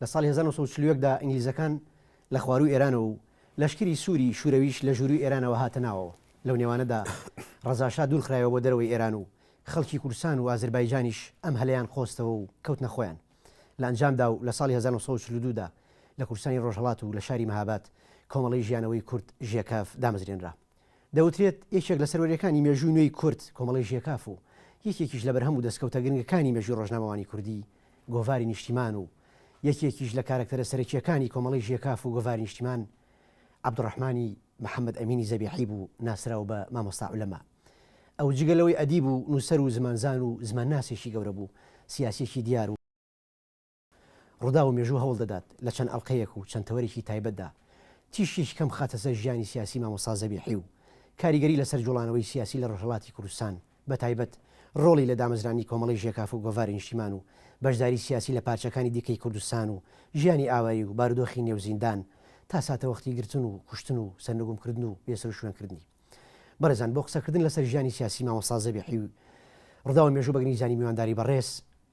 لە ساڵی هەزار و نۆ سەد و چل و یەک دا ئینگلیزەکان لە خوارووی ئێرانەوە و لەشکری سووری شوورەویش لە ژوورووی ئێرانەوە هاتە ناوەوە. لەو نێوانەدا ڕەزاشا دوور خرایەوە بۆ دەرەوەی ئێران و خەڵکی کوردستان و ئازربایجانیش ئەم هەلەیان قۆستەوە و کەوتنە خۆیان. لە ئەنجامدا و لە ساڵی هەزار و نۆ سەد و چل و دوو دا لە کوردستانی ڕۆژهەڵات و لە شاری مەهاباد کۆمەڵەی ژیانەوەی کورد، ژێکاف، دامەزرێنرا. دەوترێت یەکێک لە سەروەریەکانی مێژووی نوێی کورد کۆمەڵەی ژێکاف و یەکێکیش لە بەرهەم و دەستکەوتە گرنگەکانی مێژووی ڕۆژنامەوانی کوردی گۆڤاری نیشتیمان و یەکێکیش لە کارەکتەرە سەرەکییەکانی کۆمەڵەی ژێکاف و گۆڤاری نیشتیمان عەبدوڕەحمانی محەمەد ئەمینی زەبیحی بوو ناسراو بە مامۆستا عولەما ئەو جگە لەوەی ئەدیب و نووسەر و زمانزان و زمانناسێکی گەورە بوو سیاسیەکی دیار و ڕووداو و مێژوو هەوڵ دەدات لە چەند ئەڵقەیەک و چەند تەوەرێکی تایبەتدا تیشکێکی کەم بخاتە سەر ژیانی سیاسی مامۆستا زەبیحی و کاریگەری لەسەر جوڵانەوەی سیاسی لە ڕۆژهەڵاتی کوردستان بە تایبەت ڕۆڵی لە دامەزرانی کۆمەڵەی ژێکاف و گۆڤاری نیشتیمان و بەشداری سیاسی لە پارچەکانی دیکەی کوردستان و ژیانی ئاوایی و بارودۆخی نێو زیندان تا ساتەوەختی گرتن و کوشتن و سەرنگوم کردن و بێسەروشوێن کردنی بەڕێزان بۆ قسە کردن لەسەر ژیانی سیاسی مامۆستا زەبیحی و ڕووداو و مێژوو بەگنیزانی میوانداری بەڕێز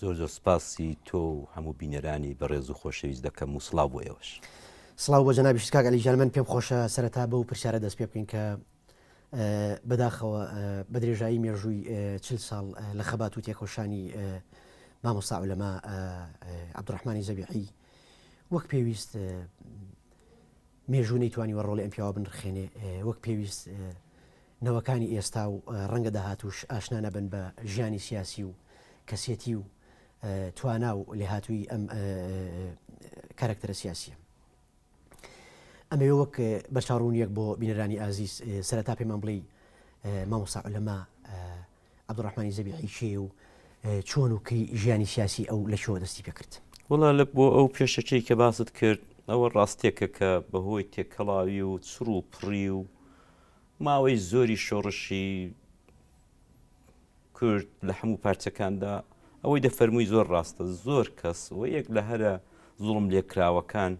زۆر زۆر سپاسی تۆ و هەموو بینەرانی بەڕێز و خۆشەویست دەکەم و سڵاو بۆ ئێوەش. سڵاو بۆ جەنابیشت کاک عەلی گیان من پێم خۆشە سەرەتا بەو پرسیارە دەست پێ بکەین کە بەداخەوە بە درێژایی مێژووی چل ساڵ لە خەبات و تێکۆشانی مامۆستا عولەما عەبدوڕەحمانی زەبیحی وەک پێویست مێژوو نەیتوانیوە ڕۆڵی ئەم پیاوە بنرخێنێ وەک پێویست نەوەکانی ئێستا و ڕەنگە داهاتوش ئاشنا نەبن بە ژیانی سیاسی و کەسێتی و توانا و لێهاتووی ئەم کارکتەرە سیاسیە ئەمەوێ وەک بەرچاڕوونیەک بۆ بینەرانی ئازیز سەرتا پێمان بڵێ مامۆسا لەما عەبدولڕەحمانی زەبیحی کێیە و چۆن و کەی ژیانی سیاسی ئەو لە کوێوە دەستی پێ کرد؟ وەڵا لە بۆ ئەو پێشەکیەی کە باست کرد ئەوە ڕاستێکە کە بە هۆی تێکەڵاوی و چڕ و پڕی و ماوەی زۆری شۆڕشی کورد لە هەموو پارچەکاندا ئەوەی دەفەرمووی زۆر ڕاستە زۆر کەس و یەک لە هەرە زوڵم لێکراوەکان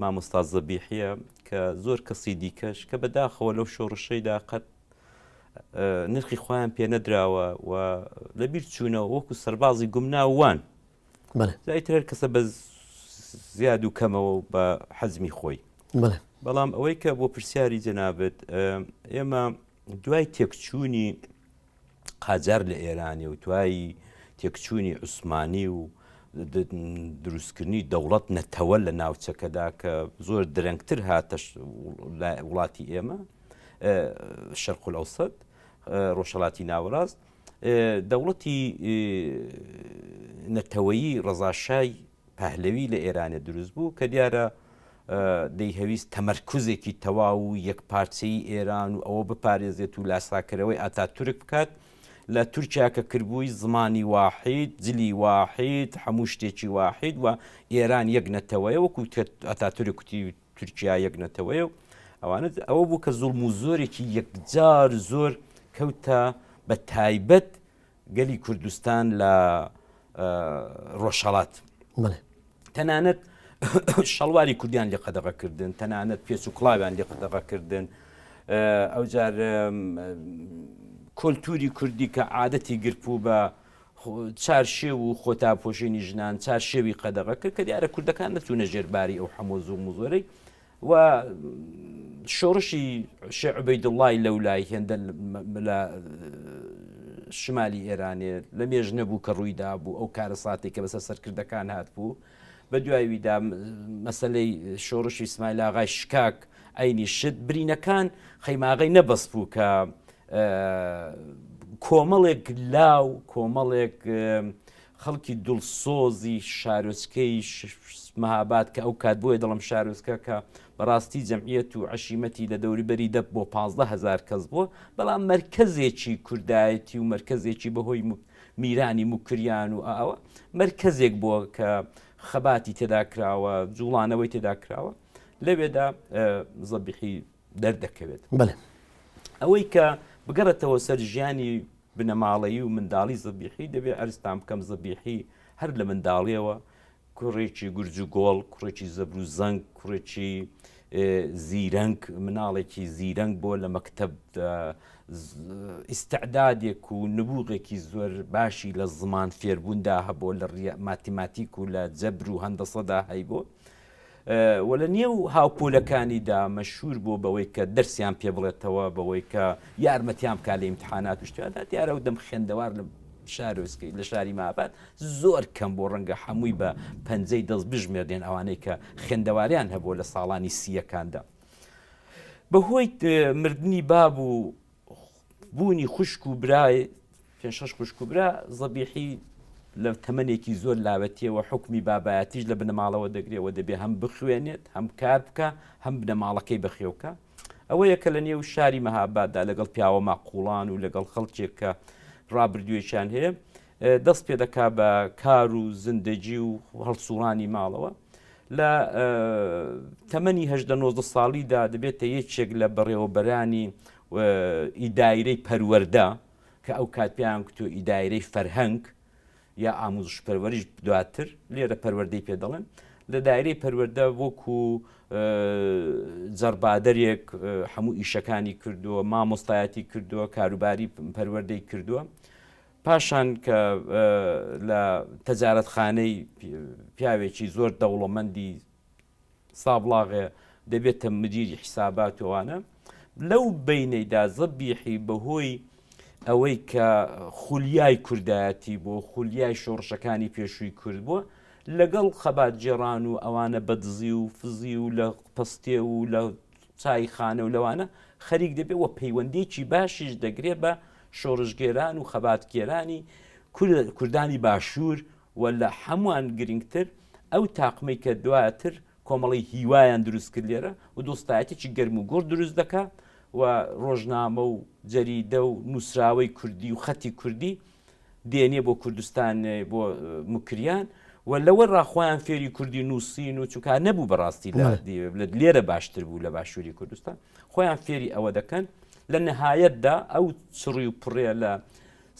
مامۆستا زەبیحیە کە زۆر کەسی دیکەش کە بەداخەوە لەو شۆڕشەیدا قەت نرخی خۆیان پێ نەدراوە و لەبیر چوونەوە وەکو سەربازی گومناوان زیاتر هەر کەسە بە زیاد و کەمەوە بە حەزمی خۆی بەڵام ئەوەی کە بۆ پرسیاری جەنابەت ئێمە دوای تێکچوونی قاجار لە ئێرانی و دوایی تێکچوونی عوسمانی و دروستکردنی دەوڵەت نەتەوە لە ناوچەکەدا کە زۆر درەنگتر هاتە وڵاتی ئێمە شەرق الاوسط ڕۆژهەڵاتی ناوەڕاست دەوڵەتی نەتەوەیی ڕەزاشای پهلوی لە ئێرانە دروست بوو کە دیارە دەیهویست تەمەرکزێکی تەواو و یەک پارچەی ئێران و ئەوە بپارێزێت و لاساکەرەوەی ئاتا تورک بکات لە تورکیا کە کردبووی زمانی واحید جلی واحید هەموو شتێکی واحید و ئێران یەک نەتەوەیە وەکو ئەتا تورکتی تورکیا یەک نەتەوەیە و ئەوانە ئەوە بوو کە زوڵم و زۆرێکی یەکجار زۆر کەوتە بە تایبەت گەلی کوردستان لە ڕۆژهڵات تەنانەت شەڵواری کوردیان لێ قەدەغەکردن تەنانەت پێچ و کڵاویان لێ قەدەغەکردن ئەوجار کۆلتوری کوردی کە عادەتی گرپوو بە چارشێو و خۆتاپۆشینی ژنان چارشێوی قەدەغە کرد کە دیارە کوردەکان نەچوونە ژێرباری ئەو حەمۆ زوو مزۆرەی و شۆڕشی شعبەی دڵای لەو لای هێندە لە شمالی ئێرانێ لە مێژ نەبوو کە ڕوویدا بوو ئەو کارە ساتێک کە بەسەر سەرکردەکان هات بوو بە دوای ویدا مەسەلەی شۆڕشی سمایل ئاغای شکاک ئەینی شت برینەکان خەیماغی نەبەست بوو کە کۆمەڵێک لاو کۆمەڵێک خەڵکی دڵسۆزی شارۆچکەی مەهاباد کە ئەو کات بۆیە دەڵم شارۆچکە کە بەڕاستی جەمعیت و عشیمەتی لە دەوری بەری دە بۆ 15هزار کەس بووە بەڵام مرکزێکی کوردایەتی و مرکزێکی بەهۆی میرانی موکریان و ئاوە مەرکەزێک بووە کە خەباتی تێدا کراوە جوڵانەوەی تێدا کراوە لەوێدا زەبیحی دەردەکەوێت بڵێ ئەوەی کە بگەڕێتەوە سەر ژیانی بنەماڵەیی و منداڵی زەبیحی دەبێت ئەرستان بکەم زەبیحی هەر لە منداڵیەوە کوڕێکی گورج و گۆڵ، کوڕێکی زەبر و زەنگ، کوڕێکی زیرەنگ، مناڵێکی زیرەنگ بۆ لە مەکتەب ئیسعدادێک و نبوغێکی زۆر باشی لە زمان فێربووندا هەبوو لە ماتیماتیک و لە جەبر و هەندەسەدا هەیبوو. و لە نێو هاوپۆلەکانیدا مەشهوور بووە بەوەی کە دەرسیان پێ بڵێتەوە، بەوەی کە یارمەتیان بکات لە ئیمتیحانات و شتاندا، دیارە ئەو دەم خوێندەوار لە شارۆچکەی لە شاری مەهاباد زۆر کەم بوو، ڕەنگە هەمووی بە پەنجەی دەست بژمێردرێن ئەوانەی کە خوێندەواریان هەبووە لە ساڵانی سییەکاندا بەهۆی مردنی باب و. بوونی خوشک و برای پێشەش خوشک و برا زەبیحی لە تەمەێکی زۆر لاوەتیەوە حکمی بابایەتیش لە بنەماڵەوە دەگرێەوە دەبێ هەم بخوێنێت هەم کار بکە هەم بنەماڵەکەی بەخێوکە ئەوەیە کە لە نێو شاری مەهاباددا لەگەڵ پیاوە ماقوڵان و لەگەڵ خەڵکێک کە ڕابردوێکیان هەیە دەست پێ دەکات بە کار و زندەگی و هەڵسووڕانی ماڵەوە لە تەمەنی هەدە نۆزدە ساڵیدا دەبێتە یەکێک لە بەڕێوەبەرانی ئیدایرەی پەروەەردە کە ئەو کات پێیان کتۆ ئیدایرەی فەرهەنگ یا ئاموزش پەروەریش دواتر لێرە پەروەردەی پێ دەڵێن لە دایرەی پەروەەردە وەکو جەربادەرێک هەموو ئیشەکانی کردووە مامۆستایەتی کردووە کاروباری پەروەەردەی کردووە پاشان کە لە تەجارەتخانەی پیاوێکی زۆر دەوڵەمەندی سابڵاغێ دەبێتە مدیری حیسابات وانە لەو بینەیدا زەبیحی بەهۆی ئەوەی کە خولیای کوردایەتی بۆ خولیای شۆڕشەکانی پێشووی کورد بووە لەگەڵ خەبات جێران و ئەوانە بەدزی و فزی و لە پستێ و لە چایخانە و لەوانە خەریک دەبێت و پەیوەندیەکی باشیش دەگرێت بە شۆڕشگێران و خەباتگێرانی کوردانی باشوور و لە هەمووان گرنگتر ئەو تاقمەی کە دواتر کۆمەڵی هیوایان دروست کرد لێرە و دۆستایەتێکی گەرم و گۆڕ دروست دەکات و ڕۆژنامە و جەریدە و نووسراوەی کوردی و خەتی کوردی دێنێ بۆ کوردستان بۆ مکریان و لەوە ڕاخۆیان فێری کوردی نووسین و چکار نەبوو بەڕاستی لە لێرە باشتر بوو لە باشووری کوردستان خۆیان فێری ئەوە دەکەن لە نەهایەتدا ئەو چڕی و پڕێ لە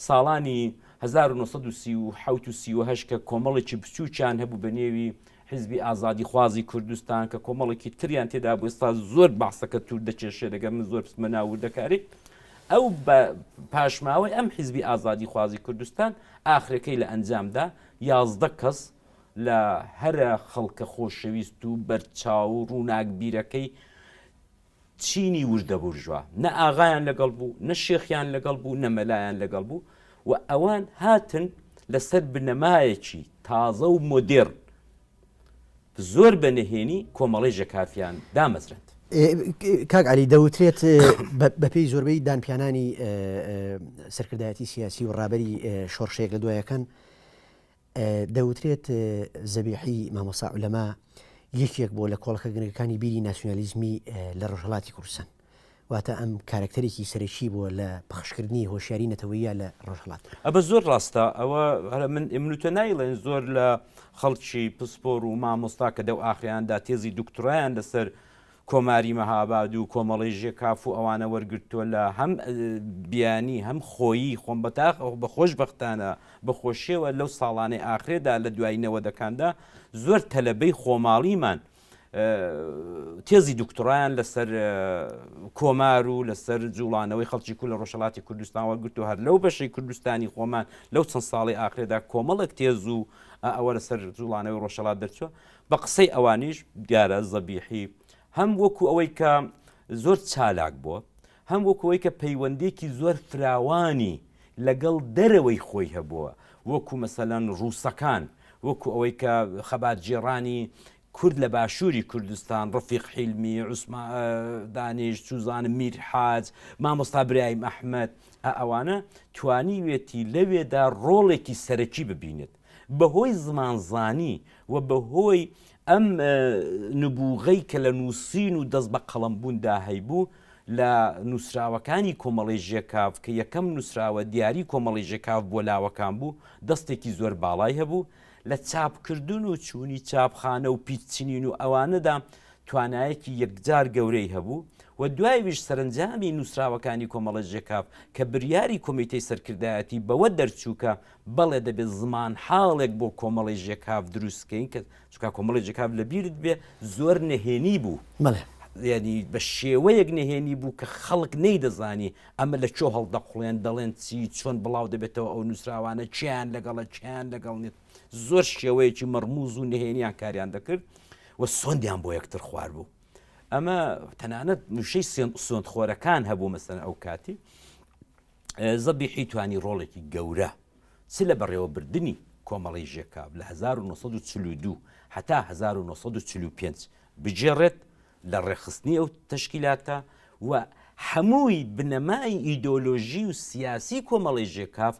ساڵانی 1970 کە کۆمەڵێکی بچووکیان هەبوو بە نێوی حیزبی ئازادیخوازی کوردستان کە کۆمەڵێکی تریان تێدا بوو ئێستا زۆر بەعسەکە توور دەکێشێ دەگەر من زۆر بچمە ناو وردەکاری ئەو بە پاشماوەی ئەم حیزبی ئازادیخوازی کوردستان ئاخرەکەی لە ئەنجامدا یازدە کەس لە هەرە خەڵکە خۆشەویست و بەرچاو و ڕووناکبیرەکەی چینی وردەبورژوا، نە ئاغایان لەگەڵ بوو، نە شێخیان لەگەڵ بوو، نە مەلایان لەگەڵ بوو و ئەوان هاتن لەسەر بنەمایەکی تازە و مۆدێرن، زۆر بە نهێنی کۆمەڵەی ژەکافیان دامەزراند. کاک عەلی، دەوترێت بەپێی زۆربەی دانپیانانی سەرکردایەتی سیاسی و ڕابەری شۆڕشێک لە دوایەکان، دەوترێت زەبیحی مامۆسا عولەما یەکێک بۆ لە کۆڵەکە گرنگەکانی بیری ناسیۆنالیزمی لە ڕۆژهڵاتی کوردستان واتە ئەم کارکتەرێکی سەرەکی بووە لە پخشکردنی هۆشیاری نەتەوەیە لە ڕۆژهڵات ئەبە زۆر ڕاستە ئەوە هەرە من ئمنوتە نایڵێن زۆر لە خەڵکی پسپۆر و مامۆستا کە دەو ئاخیاندا تێزی دکتۆرایان لەسەر کۆماری مهاباد و کۆمەڵەی ژێکاف و ئەوانە وەرگرتووە لە هەم بیانی هەم خۆیی خۆم بەتاق بە خۆش بەختانە بە خۆشیەوە لەو ساڵانەی ئاخرێدا لە دوای نەوەدەکاندا زۆر تەلەبەی خۆماڵیمان تێزی دکتڕایان لەسەر کۆمار و لەسەر جوڵانەوەی خەڵکی کو لە ڕۆژەڵاتی کوردستان وەگرت و هەر لەو بەشەی کوردستانی خۆمان لەو چەند ساڵی ئاخرێدا کۆمەڵک تێز و ئەوە لەسەر جوڵانەوەی ڕۆژەڵات دەرچوە بە قسەی ئەوانیش دیارە زەبیحی هەم وەکو ئەوەی کە زۆر چالاک بووە، هەم وەکو ئەوەی کە پەیوەندییەکی زۆر فراوانی لەگەڵ دەرەوەی خۆی هەبووە، وەکو مەسەلەن ڕووسەکان، وەکو ئەوەی کە خەباتگێڕانی کورد لە باشووری کوردستان، ڕەفیق حیلمی، عوسما دانیش، چوزانم میر حاج، مامۆستا برایم ئەحمەد، ئەوانە توانیوێتی لەوێدا ڕۆڵێکی سەرەکی ببینێت. بەهۆی زمانزانی و بەهۆی ئەم نبووغەی کە لە نووسین و دەست بە قەڵەمبووندا هەیبوو، لە نووسراوەکانی کۆمەڵەی ژێکاف کە یەکەم نووسراوە دیاری کۆمەڵەی ژێکاف بۆ لاوەکان بوو، دەستێکی زۆر باڵای هەبوو. لە چاپکردن و چوونی چاپخانە و پیچنین و ئەوانەدا توانایەکی یەکجار گەورەی هەبوو و دوایویش سەرەنجامی نووسراوەکانی کۆمەڵەی ژێکاف کە بریاری کۆمیتەی سەرکردایەتی بەوە دەرچوو کە بەڵێ دەبێت زمانحاڵێک بۆ کۆمەڵی ژێکاف دروست بکەین کە چونکە کۆمەڵی ژێکاف لە بیرت بێ زۆر نەهێنی بوو بەڵێ یانی بە شێوەیەک نەهێنی بوو کە خەڵک نەیدەزانی ئەمە لە کۆ هەڵدەقوڵێن دەڵێن چی چۆن بڵاو دەبێتەوە ئەو نووسراوانە چیان لەگەڵە چیان لەگەڵ نیت زۆر شێوەیەکی مەڕموز و نهێنیان کاریان دەکرد و سۆندیان بۆ یەکتر خوار بوو ئەمە تەنانەت نووشەی سۆند خۆرەکان هەبوو مەسەن ئەو کاتی زەبیحی توانی ڕۆڵێکی گەورە چ لە بەڕێوەبردنی کۆمەڵەی ژێکاف لە 1942 هەتا 1945 بگێڕێت لە ڕێکخستنی ئەو تەشکیلاتە و هەمووی بنەمای ئیدۆلۆژی و سیاسی کۆمەڵی ژێکاف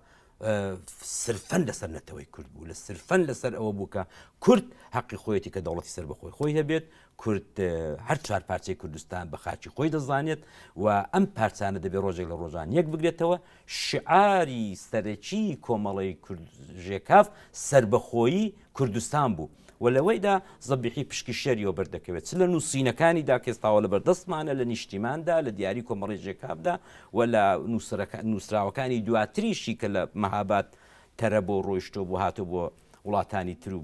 سرفەن لەسەر نەتەوەی کورد بوو لە سرفەن لەسەر ئەوە بوو کە کورد حەقی خۆیەتی کە دەوڵەتی سەر بەخۆی خۆی هەبێت کورد هەر چوار پارچەی کوردستان بە خاچی خۆی دەزانێت و ئەم پارچانە دەبێت ڕۆژێک لە ڕۆژان یەک بگرێتەوە شعاری سەرەکی کۆمەڵی کوردژێکاف سربەخۆیی کوردستان بوو و لەوەیدا زەبیحی پشکی شەریەوە بەردەکەوێت چ لە نووسینەکانی داکێستاوە لە بەردەستمانە لە نیشتیماندا لە دیاری کۆمەڵی ژێکابدا و لە نووسراوەکانی دواتریشی کە لە مەهابات تەرە بۆ ڕۆیشتۆ بۆ هاتۆ بۆ وڵاتانی تر و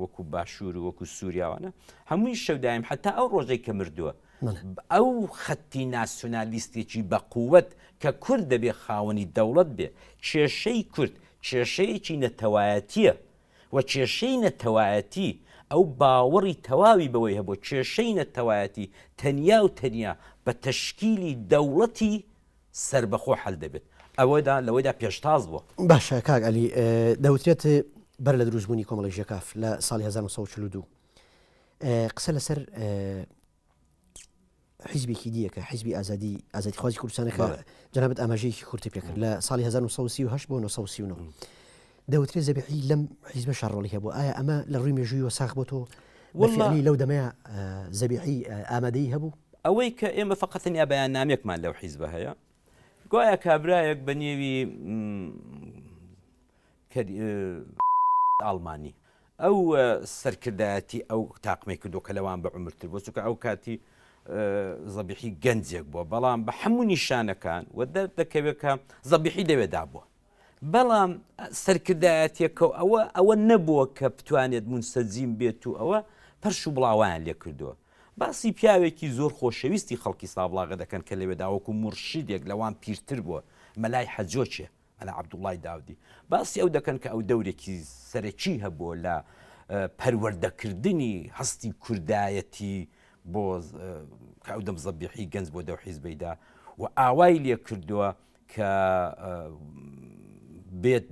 وەکو باشوور و وەکو سووریاوانە هەمووی شەودایم حتا ئەو ڕۆژەی کە مردووە ئەو خەتی ناسیۆنالیستێکی بە قووەت کە کورد دەبێ خاوەنی دەوڵەت بێ کێشەی کورد کێشەیەکی نەتەوایەتیە و کێشەی نەتەوایەتی ئەو باوەڕی تەواوی بەوەی هەبوو کێشەی نەتەوایەتی تەنیا و تەنیا بە تەشکیلی دەوڵەتی سەربەخۆ حەل دەبێت ئەوەدا لەوەیدا پێشتاز بووە. باشە کاک عەلی دەوترێت بەر لە دروستبوونی کۆمەڵی ژێکاف لە ساڵی 1942 قسە لەسەر حیزبێکی دیەکە حیزبی ئازادی ئازادی خوازی کوردستانەکە جنابەت ئاماژەیەکی کورتی پێکرد لە ساڵی 1930 بۆ 1939 دەوترێ زەبیحی لەم حیزبەشە ڕۆڵی هەبوو ئایا ئەمە لە ڕووی مێژوویەوە ساخ بۆ تۆ وڵی لەو دەمەیە زەبیحی ئامادەی هەبوو ئەوەی کە ئێمە فقەتنیا بەیان نامێکمان لەو حیزبە هەیە گوایە کابراەک بە نێوی ئاڵمانی ئەو سەرکردایەتی ئەو تاقمەی کردو کە لەوان بە عمرتر بۆ چکە ئەو کاتی زەبیحی گەنجێک بووە بەڵام بە هەموو نیشانەکان و دەردەکەوێت کە زەبیحی لەوێدا بووە بەڵام سەرکردایەتیەکەو ئەوە ئەوە نەبووە کە بتوانێت مونسەجیم بێت و ئەوە پەرش و بڵاوەیان لێکردووە. باسی پیاوێکی زۆر خۆشەویستی خەڵکی سابڵاغە دەکەن کە لەوێدا وەکو مورشیدێک لەوان پیرتر بووە، مەلای حەجۆکێ، مەلا عەبدوڵڵای داودی، باسی ئەو دەکەن کە ئەو دەورێکی سەرەکی هەبووە لە پەروەردەکردنی هەستی کوردایەتی بۆ کە ئەو دەم زەبیحی گەنج بۆ دەو حیزبەیدا و ئاوای لێکردووە کە بێت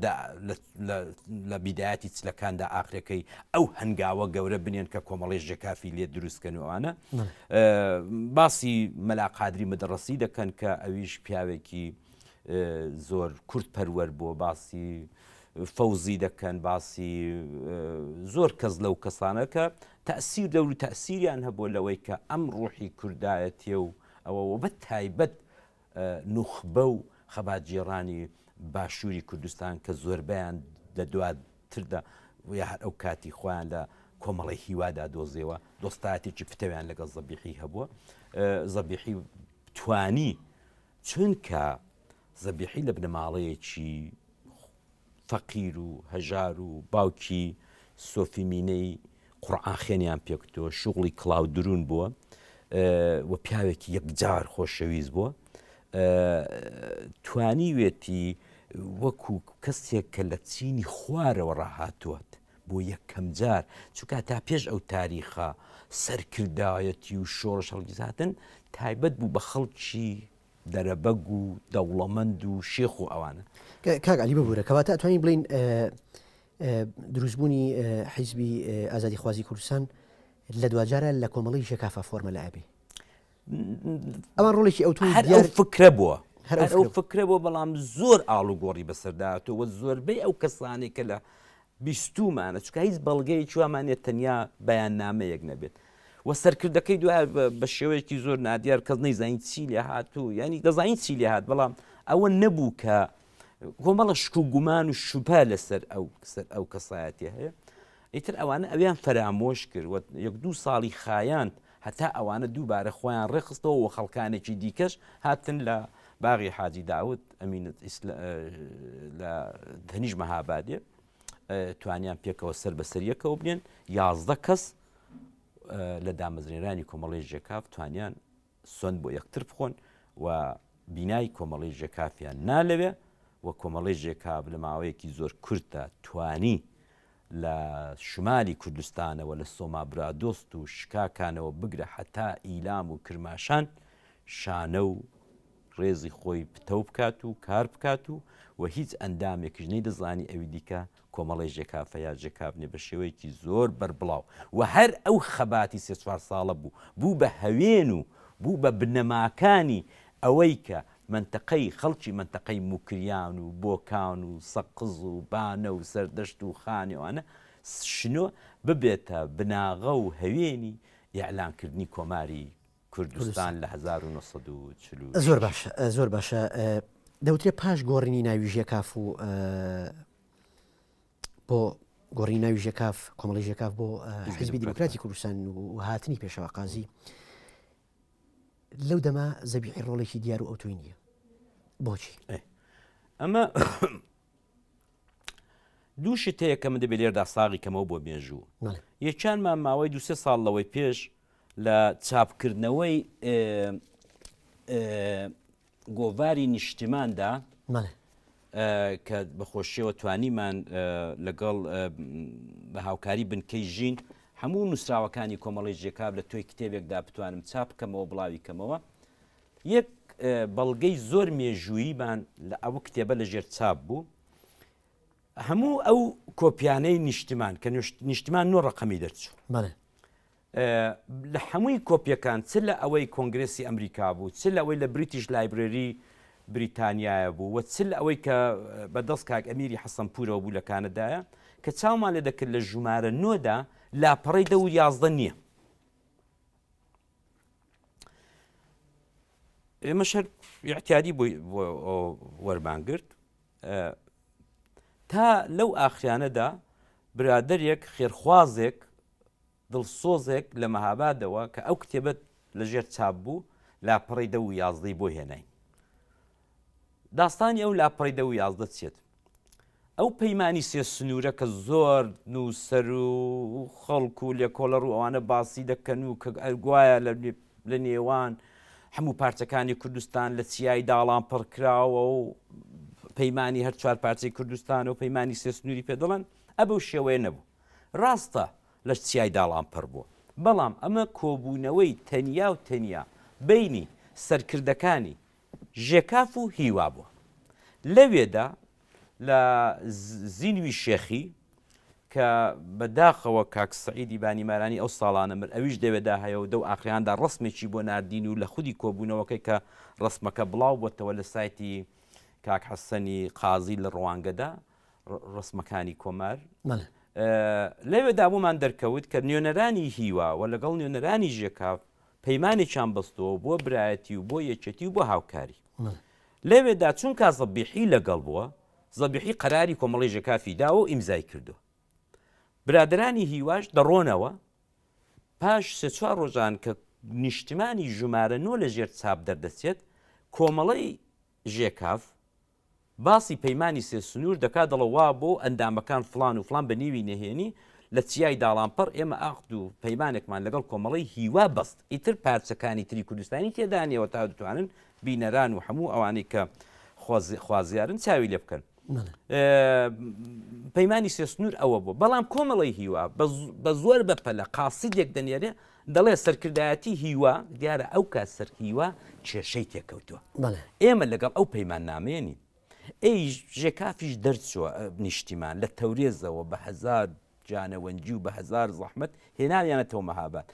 لە بیداەتی چلەکاندا ئاخرەکەی ئەو هەنگاوە گەورە بنێن کە کۆمەڵی ژێکافی لێ دروستکەنوانە باسی مەلاقادری مەدەڕسی دەکەن کە ئەویش پیاوێکی زۆر کورت پەروەەر بۆ باسی فەوزی دەکەن باسی زۆر کەس لەو کەسانەکە تەسیر دەور و تەسیریان هەبوو لەوەی کە ئەم ڕوحی کوردایەتیە و ئەوە بە تایبەت نوخبە و خەباتگێڕانی باشووری کوردستان کە زۆربەیان لە دواتردا و یا هەر ئەو کاتی خۆیان لە کۆمەڵی هیوادا دۆزیەوە دۆستایەتێکی پتەویان لەگەڵ زەبیحی هەبووە زەبیحی توانی چونکە زەبیحی لە بنەماڵەیەکی فەقیر و هەژار و باوکی سۆفی مینەی قوڕعان خێنیان پێکوتووە، شوغڵی کڵاو دروون بووە و پیاوێکی یەکجار خۆشەویست بووە. توانیوێتی وەکو کەسێک کە لە چینی خوارەوە ڕاهاتووەت بۆ یەکەم جار چونکە تا پێش ئەو تاریخە سەرکردایەتی و شۆڕش هەڵگیزاتن تایبەت بوو بە خەڵکی دەرەبەگ و دەوڵەمەند و شێخ و ئەوانە کاک علی ببوورە کەواتە ئەتوانین بڵین دروستبوونی حیزبی ئازادی خوازی کوردستان لە دواجارە لە کۆمەڵی شکافە فۆرمە لە ئەبی ئەوان ڕۆڵێکی ئەو هەر فکرە بووە هەر ئەو فکرە بۆ بەڵام زۆر ئاڵوگۆڕی بەسەرداهاتەوە زۆربەی ئەو کەسانی کە لە بیستوومانە چونکە هیچ بەڵگەیەکی وامان نیە تەنیا بەیاننامەیەک نەبێت و سەرکردەکەی دوای بە شێوەیەکی زۆر نادیار کەس نەیزانین چی لێ هات و ینی دەزانین چی لێ هات بەڵام ئەوە نەبوو کە کۆمەڵە شک و گومان و شوپا لەسەر ئەو سەر ئەو کەسایەتی هەیە ئیتر ئەوانە ئەویان فەرامۆش کرد یەک دوو ساڵی خایاند هەتا ئەوانە دووبارە خۆیان ڕێکخستەوە و خەڵکانێکی دیکەش هاتن لە باغی حاجی داود ئەمین لە دەنیش مەهابادێ توانیان پێکەوە سەر بەسەریەکەەوە بنێن یازدە کەس لە دامەزرێنرانی کۆمەڵی ژێکاف توانیان سند بۆ یەکتر بخۆن و بینای کۆمەڵی ژێکافیان نالەوێ و کۆمەڵی ژێکاف لە ماوەیەکی زۆر کورتدا توانی لە شمالی کوردستانەوە لە سۆما برادۆست و شکاکانەوە بگرە هەتا ئیلام و کرماشان شانە و ڕێزی خۆی پتەو بکات و کار بکات و و هیچ ئەندامێکیش نەیدەزانی ئەوی دیکە کۆمەڵی ژێکافە یا ژێکابنێ بە شێوەیەکی زۆر بەربڵاو و هەر ئەو خەباتی سێ چوار ساڵە بوو بوو بە هەوێن و بوو بە بنەماکانی ئەوەی کە مەنتەقەی خەڵکی مەنتەقەی موکریان و بۆکان و سەقز و بانە و سەردەشت و خانێوانە شنۆ ببێتە بناغە و هەوێنی ئیعلان کردنی کۆماری کوردستان لە هەزار و نۆ سەد و چل و شەش. زۆر باشە زۆر باشە دەوترێ پاش گۆڕینی ناوی ژێکاف و بۆ گۆڕی ناوی ژێکاف کۆمەڵی ژێکاف بۆ حیزبی دیموکراتی کوردستان و هاتنی پێشەوا قازی لەو دەما زەبیحی ڕۆڵێکی دیار و ئەو توی نییە بۆچی ئەمە دوو شتەیە کە من دەبێت لێردا ساغی کەمەوە بۆ مێژوو یەکانمان ماوەی دوسێ ساڵ لەوەی پێش لە چاپکردنەوەی گۆڤاری نیشتیماندا کە بەخۆشیەوە توانیمان لەگەڵ بە هاوکاری بنکەی ژین هەموو نووسراوەکانی کۆمەڵی جێکاب لە تۆی کتێبێکدا بتوانم چاپ بکەمەوە بڵاوی کەمەوە یەک بەڵگەی زۆر مێژووییمان لە ئەو کتێبە لە ژێر چاپ بوو هەموو ئەو کۆپیانەی نیشتمان کە نیشتمان نۆ ڕقەمی دەرچوو لە هەمووی کۆپیەکان چ لە ئەوەی کۆنگرێسی ئەمریکا بوو چ لەوەی لە بریتیش لایبرێری بریتانیایە بوو وە چ لە ئەوەی کە بە دەست کاک ئەمیری حەسەن پورەوە بوو لە کانەدایە کە چاومان لێ دەکرد لە ژومارە نۆدا لاپەڕی دە و یازدە نییە ئێمە شەر یاعتیادی بۆی وەرمانگرت تا لەو ئاخریانەدا برادێک خێرخوازێک دڵسۆزێک لە مەهابادەوە کە ئەو کتێبە لە ژێر چاپ بوو لاپەڕی دە و یازدەی بۆ هێناین داستانی ئەو لاپەڕی دە و یازدە چێت ئەو پەیمانانی سێ سنوورە کە زۆر نووسەر و خەڵک و لێکۆڵەر و ئەوانە باسی دەکەن و کە ئەرگوایە لە نێوان هەموو پارچەکانی کوردستان لە چیای داڵان پڕکراوە و پەیمانانی هەر چوار پارچەی کوردستان و پەیمانانی سێ سنووری پێدەڵن ئە بەو شێوەیە نەبوو ڕاستە لە چیای داڵان پڕ بووە، بەڵام ئەمە کۆبوونەوەی تەنیا و تەنیا بەینی سەرکردەکانی ژێکاف و هیوا بووە. لەوێدا لە زینوی شێخی کە بە داخەوە کاک سەعیدی بانیمارانی ئەو ساڵانە مرد ئەویش لەوێدا هەیە و دەو ئاخراندا ڕەسمێکی بۆ ناردین و لە خودی کۆبوونەوەکەی کە ڕەسمەکە بڵاو بۆتەوە لە سایتی کاک حەسەنی قازی لە ڕوانگەدا ڕسمەکانی کۆمار لەوێدا بۆمان دەرکەوت کە نوێنەرانی هیوا و لەگەڵ نوێنەرانی ژێکاف پەیمانێکیان بەستەوە بۆ برایەتی و بۆ یەکێتی و بۆ هاوکاری لەوێدا چونکە زەبیحی لەگەڵ بووە زەبیحی قەراری کۆمەڵی ژێکافی داوە و ئیمزای کردو برادرانی هیواش دەڕۆنەوە پاش سێ چوار ڕۆژان کە نیشتمانی ژمارە نۆ لە ژێر چاپ دەردەچێت کۆمەڵی ژێکاف باسی پەیمانی سێ سنوور دەکات دەڵێ وا بۆ ئەندامەکان فڵان و فڵان بە نیوی نەهێنی لە چیای داڵانپەڕ ئێمە ئاقد و پەیمانێکمان لەگەڵ کۆمەڵەی هیوا بەست ئیتر پارچەکانی تری کوردستانی تێدا نیەوە تا دتوانن بینەران و هەموو ئەوانەی کە خوازیارن چاوی لێ بکەن پەیمانی سێ سنوور ئەوە بوو بەڵام کۆمەڵی هیوا بە زۆر بە پەلە قاسیدێک دەنێرێ دەڵێت سەرکردایەتی هیوا، دیارە ئەو کات سەر هیوا کێشەی تێکەوتووە. ئێمە لەگەڵ ئەو پەیماننامەیە نین. ئێیش ژێکافیش دەرچووە نیشتیمان لە تەورێزەوە بە هەزار جانەوەنجی و بە هەزار زەحمەت هێناویانەتەوە مەهاباد.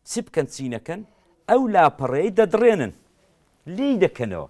چ بکەن چی نەکەن ئەو لاپەڕەی دەدڕێنن. لێی دەکەنەوە.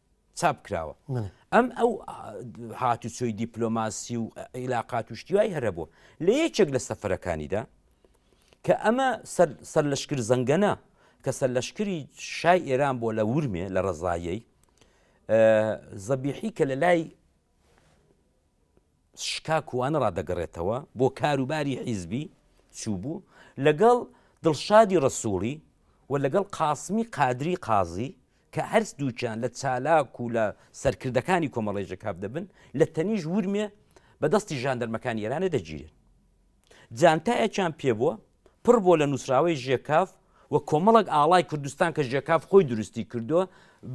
چاپ کراوە ئەم ئەو هاتوچۆی دیپلۆماسی و عیلاقات و شتیوای هەرە بووە لە یەکێک لە سەفەرەکانیدا کە ئەمە سەر لەشکر زەنگەنە کە سەر لەشکری شای ئێران بۆ لە ورمێ لە ڕزایەی زەبیحی کە لە لای شکاکووانە ڕادەگەڕێتەوە بۆ کاروباری حیزبی چووبوو لەگەڵ دڵشادی ڕەسووڵی و لەگەڵ قاسمی قادری قازی کە هەرس دووکیان لە چالاک و لە سەرکردەکانی کۆمەڵی ژەکاف دەبن لە تەنیش ورمێ بە دەستی ژاندەرمەکانی ئێرانێ دەگیرێن جانتایەکیان پێ بووە پڕ بووە لە نووسراوەی ژێکاف و کۆمەڵێک ئاڵای کوردستان کە ژێکاف خۆی دروستی کردووە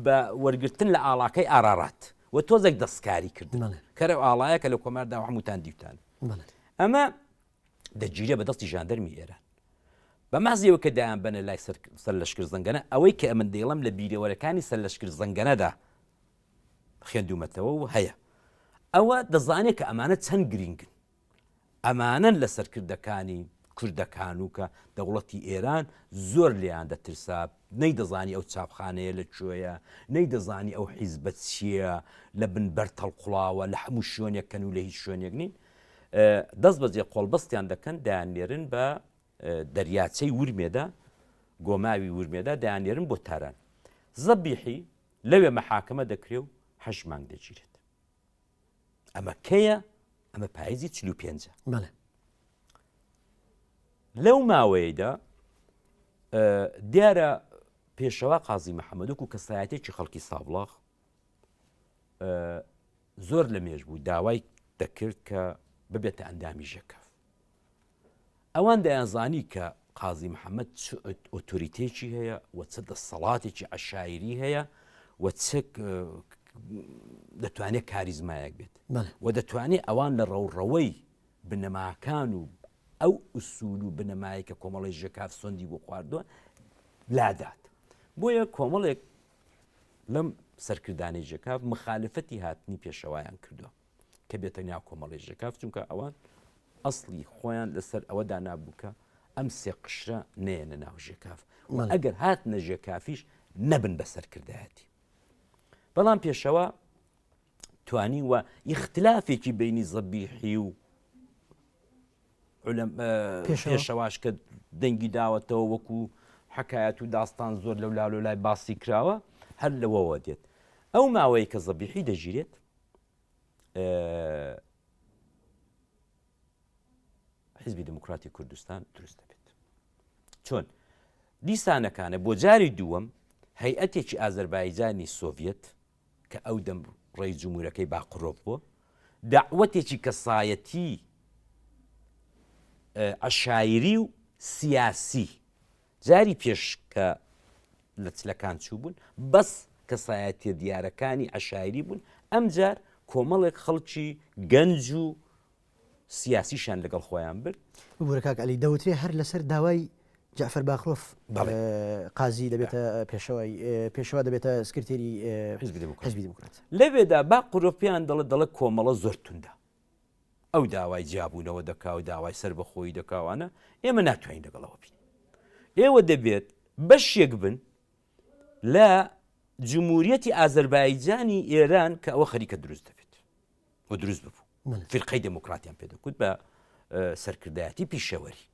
بە وەرگرتن لە ئاڵاکەی ئارارات و تۆزێک دەستکاری کردن کەرە ئاڵایە کە لە کۆمار داوە هەمووتان دیوتان ئەمە دەگیرە بە دەستی ژاندەرمی ئێران بە مازیەوە کە دایان بەنە لای سەر لەشکر زەنگەنە ئەوەی کە ئەمن دەیڵم لە بیرەوەرەکانی سەر لەشکر زەنگەنەدا خوێندومەتەوە و هەیە ئەوە دەزانێت کە ئەمانە چەند گرنگن ئەمانەن لە سەرکردەکانی کوردەکانو کە دەوڵەتی ئێران زۆر لێیان دەترسا، نەیدەزانی ئەو چاپخانەیە لە کوێیە، نەیدەزانی ئەو حیزبە چییە، لە بن بەرد هەڵقوڵاوە، لە هەموو شوێنێک کەنو لە هیچ شوێنێک نین. دەست بەجێ قۆڵبەستیان دەکەن، دەیاننێرن بە دەریاچەی ورمێدا، گۆماوی ورمێدا، دەیاننێرن بۆ تاران. زەبیحی لەوێ مەحاکمە دەکرێ و هەشت مانگ دەگیرێت. ئەمە کەیە ئەمە پاییزی چل و پێنجە بەڵێ لەو ماوەیەدا دیارە پێشەوە قازی محەممەدوک و کەسایەتێکی خەڵکی سابڵاخ زۆر لە مێژ بوو داوای دەکرد کە ببێتە ئەندامی ژەکەف ئەوان دەیانزانی کە قازی محەمەد چ ئۆتۆریتەیەکی هەیە و چ دەسەڵاتێکی عشاعری هەیە و دەتوانێت کاریزمایەک بێت و دەتوانێت ئەوان لە ڕەوڕەوەی بنەماکان و ئەو ئوسول و بنەمایە کە کۆمەڵی ژێکاف سندی بۆ خواردووە لادات بۆیە کۆمەڵێک لەم سەرکردانی ژێکاف مخالفەتی هاتنی پێشەوایان کردووە کە بێتە ناو کۆمەڵی ژەکاف چونکە ئەوان ئەسڵی خۆیان لەسەر ئەوە دانابوو کە ئەم سێ قشرە نێنە ناو ژێکاف ئەگەر هات نەژێ کافیش نەبن بە سەرکردایەتی بەڵام پێشەوە توانی و ئیختلافێکی بینی زەبیحی و پێشەواش کە دەنگی داوەتەوە وەکو حکایەت و داستان زۆر لەو لالۆ لای باسی کراوە هەر لەوەوە دێت ئەو ماوەیە کە زەبیحی دەژیرێت حیزبی دموکراتی کوردستان دروست دەبێت چۆن دیسانەکانە بۆ جاری دووەم هەیئەتێکی ئازربایجانی سۆڤەت کە ئەو دەم ڕێی جمهورەکەی باقرۆڤ بووە داوەتێکی کەسایەتی عشاعری و سیاسی جاری پێش کە لە چلەکان چووبوون بەس کەسایەتیە دیارەکانی عشاعری بوون ئەمجار کۆمەڵێک خەڵکی گەنج و سیاسیشان لەگەڵ خۆیان برد بگورە کاک علی دەوترێ هەر لەسەر داوای جعفر باخرۆف قازی دەبێتە پێشەوەی پێشەوە دەبێتە سکرتێری حزبی دموکرات لەوێدا با قرۆپیان دەڵە دەڵە کۆمەڵە زۆر توندا ئەو داوای جیابوونەوە دەکا و داوای سەربەخۆیی دەکا و ئەنا، ئێمە ناتوانین لەگەڵ ئەوە بین. ئێوە دەبێت بەشێک بن لە جمهوریەتی ئازەربایجانی ئێران کە ئەوە خەریکە دروست دەبێت و دروست ببوو. فرقەی دموکراتیان پێ دەکوت بە سەرکردایەتی پیشەوەری.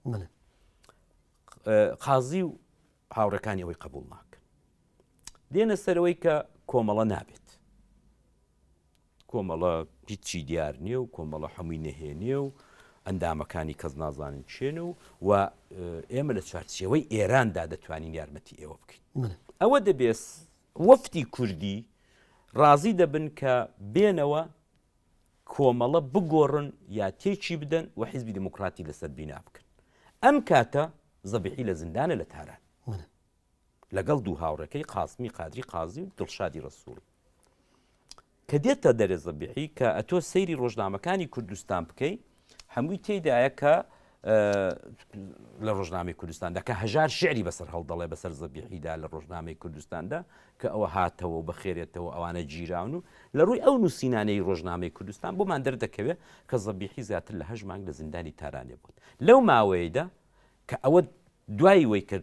قازی و هاوڕەکانی ئەوەی قبول ناکەن. دێنە سەرەوەی کە کۆمەڵە نابێت. کۆمەڵە هیچی دیار نییە و کۆمەڵە هەمووی نەهێنییە و ئەندامەکانی کەس نازانن کێن و و ئێمە لە چوارچێوەی ئێراندا دەتوانین یارمەتی ئێوە بکەین ئەوە دەبێت وەفتی کوردی ڕازی دەبن کە بێنەوە کۆمەڵە بگۆڕن یا تێکی بدەن و حیزبی دموکراتی لەسەر بینا بکەن ئەم کاتە زەبیحی لە زیندانە لە تاران لەگەڵ دوو هاوڕێکەی قاسمی قادری قازی و دڵشادی ڕەسووڵی کە دێتە دەرێ زەبیحی کە ئەتۆ سەیری ڕۆژنامەکانی کوردستان بکەی هەمووی تێدایە کە لە ڕۆژنامەی کوردستاندا کە هەژار شعری بەسەر هەڵدەڵێ بەسەر زەبیحیدا لە ڕۆژنامەی کوردستاندا کە ئەوە هاتەوە و بەخێرێتەوە ئەوانە گیراون و لە ڕووی ئەو نووسینانەی ڕۆژنامەی کوردستان بۆمان دەردەکەوێت کە زەبیحی زیاتر لە هەژمانگ لە زیندانی تارانێ بوون لەو ماوەیەدا کە ئەوە دوای وەی کە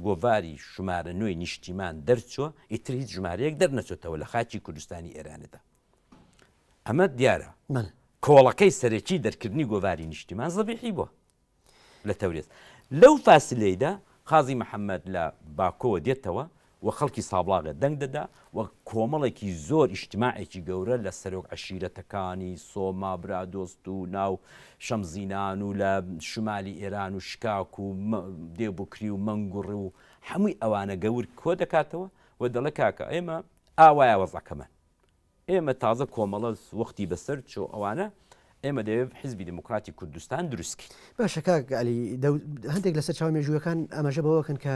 گۆڤاری شمارە نۆی نیشتیمان دەرچووە ئیتر هیچ ژمارەیەک دەرنەچێتەوە لە خاچی کوردستانی ئێراندا ئەمە دیارە من کۆڵەکەی سەرەکی دەرکردنی گۆڤاری نیشتیمان زەبیحی بووە لە تەورێز لەو فاسلەیدا قازی محەممەد لە باکۆوە دێتەوە و خەڵکی سابڵاغێ دەنگ دەدا و کۆمەڵێکی زۆر ئیجتماعێکی گەورە لە سەرۆک عەشیرەتەکانی سۆما برادۆست و ناو شەمزینان و لە شمالی ئێران و شکاک و دێبکری و مەنگوڕ و هەمووی ئەوانە گەور کۆ دەکاتەوە و دەڵێ کاکە ئێمە ئاوایە وەزعەکەمان ئێمە تازە کۆمەڵە وەختی بەسەر چۆ ئەوانە ئێمە دەێ حزبی دموکراتی کوردستان دروستکەین. باشە کاک علی هەندێک لە سەرچاوە مێژوویەکان ئاماژە بەوەکەن کە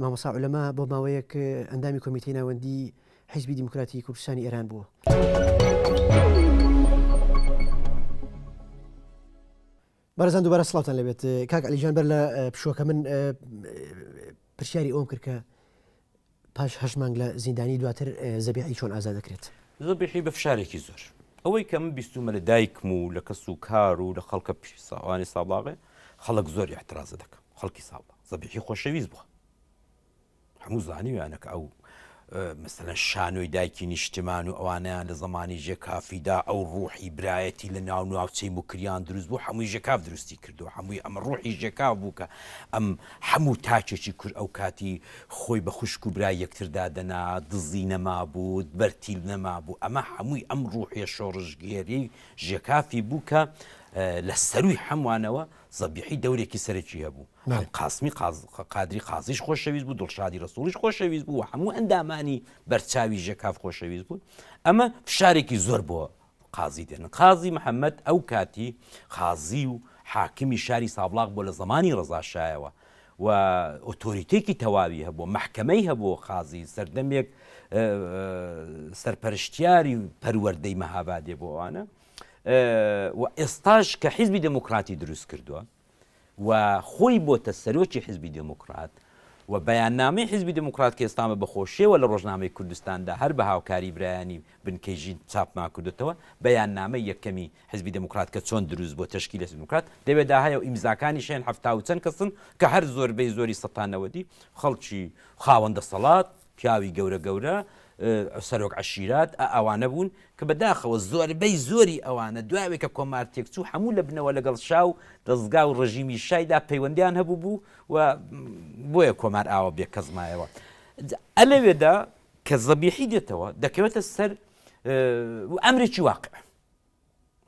مامۆسا عولەما بۆ ماوەیەک ئەندامی کۆمیتی ناوەندی حیزبی دیموکراتی کوردستانی ئێران بووە. بەرزان دوبارە سڵاوتان لەبێت کاک ئەلیجان بەر لە پشوەکە من پرسیاری ئەوم کرد کە پاش هەش مانگ لە زیندانی دواتر زەبیعی چۆن ئازا دەکرێت زەبیحی بە فشارێکی زۆر ئەوەی کە من بیستومە لە دایکم و لە کەس و کار و لە خەڵکە پیساوانی ساباغێ خەڵک زۆر احترازە دەکەم خەڵکی ساڵ زەبیحی خۆشەویست بووە هەموو زانیویانە کە ئەو مەسەلەن شانۆی دایکی نیشتمان و ئەوانیان لە زمانی ژێکافیدا ئەو ڕوحی برایەتی لە ناو ناوچەی مکریان دروست بوو هەمووی ژێکاف دروستی کردو هەمووی ئەمە ڕوحی ژێکاف بوو کە ئەم هەموو تاکێکی کورد ئەو کاتی خۆی بە خوشک و برای یەکتردا دەنا دزی نەما بوو بەرتیل نەما بوو ئەمە هەمووی ئەم ڕوحیە شۆڕژگێری ژێکافی بوو کە لە سەروی هەموانەوە زەبیحی دەورێکی سەرەکی هەبوو، عەلی قاسمی قادری قازیش خۆشەویست بوو، دڵشادی ڕەسووڵیش خۆشەویست بوو و هەموو ئەندامانی بەرچاوی ژێکاف خۆشەویست بوون، ئەمە فشارێکی زۆر بۆ قازی دێنن. قازی محەممەد ئەو کاتی قازی و حاکمی شاری سابڵاغ بووە لە زەمانی ڕەزاشایەوە و ئۆتۆریتێکی تەواوی هەبووە، مەحکەمەی هەبووە قازی سەردەمێک سەرپەرشتیاری پەروەردەی مەهابادێ بۆ ئەوانە، و ئێستاش کە حیزبی دێموکڕاتی دروست کردووە و خۆی بۆتە سەرۆکی حیزبی دێموکڕات و بەیاننامەی حیزبی دێموکڕات کە ئێستامە بەخۆشیەوە لە ڕۆژنامەی کوردستاندا هەر بە هاوکاری برایانی بنکەی ژین چاپمان کردوتەوە بەیاننامەی یەکەمی حیزبی دێموکڕات کە چۆن دروست بۆ تشکی لە دێموکرات دەوێدا هەیە و ئیمزاکانی شێن هەفتا و چەند کەسن کە هەر زۆربەی زۆری سەتانەوەدی خەڵکی خاوەندە سەڵات پیاوی گەورە گەورە سەرۆک عەشیرات ئە ئەوانە بوون کە بە داخەوە زۆربەی زۆری ئەوانە دوای ئەوەی کە کۆمار تێکچوو حەموو لە بنەوە لەگەڵ شا و دەزگا و ڕژیمی شای دا پەیوەندیان هەبوو بوو و بۆیە کۆمار ئاوا بێ کەس مایەوە ئە لەوێدا کە زەبیحی دێتەوە دەکەوێتە سەر ئەمرێکی واقع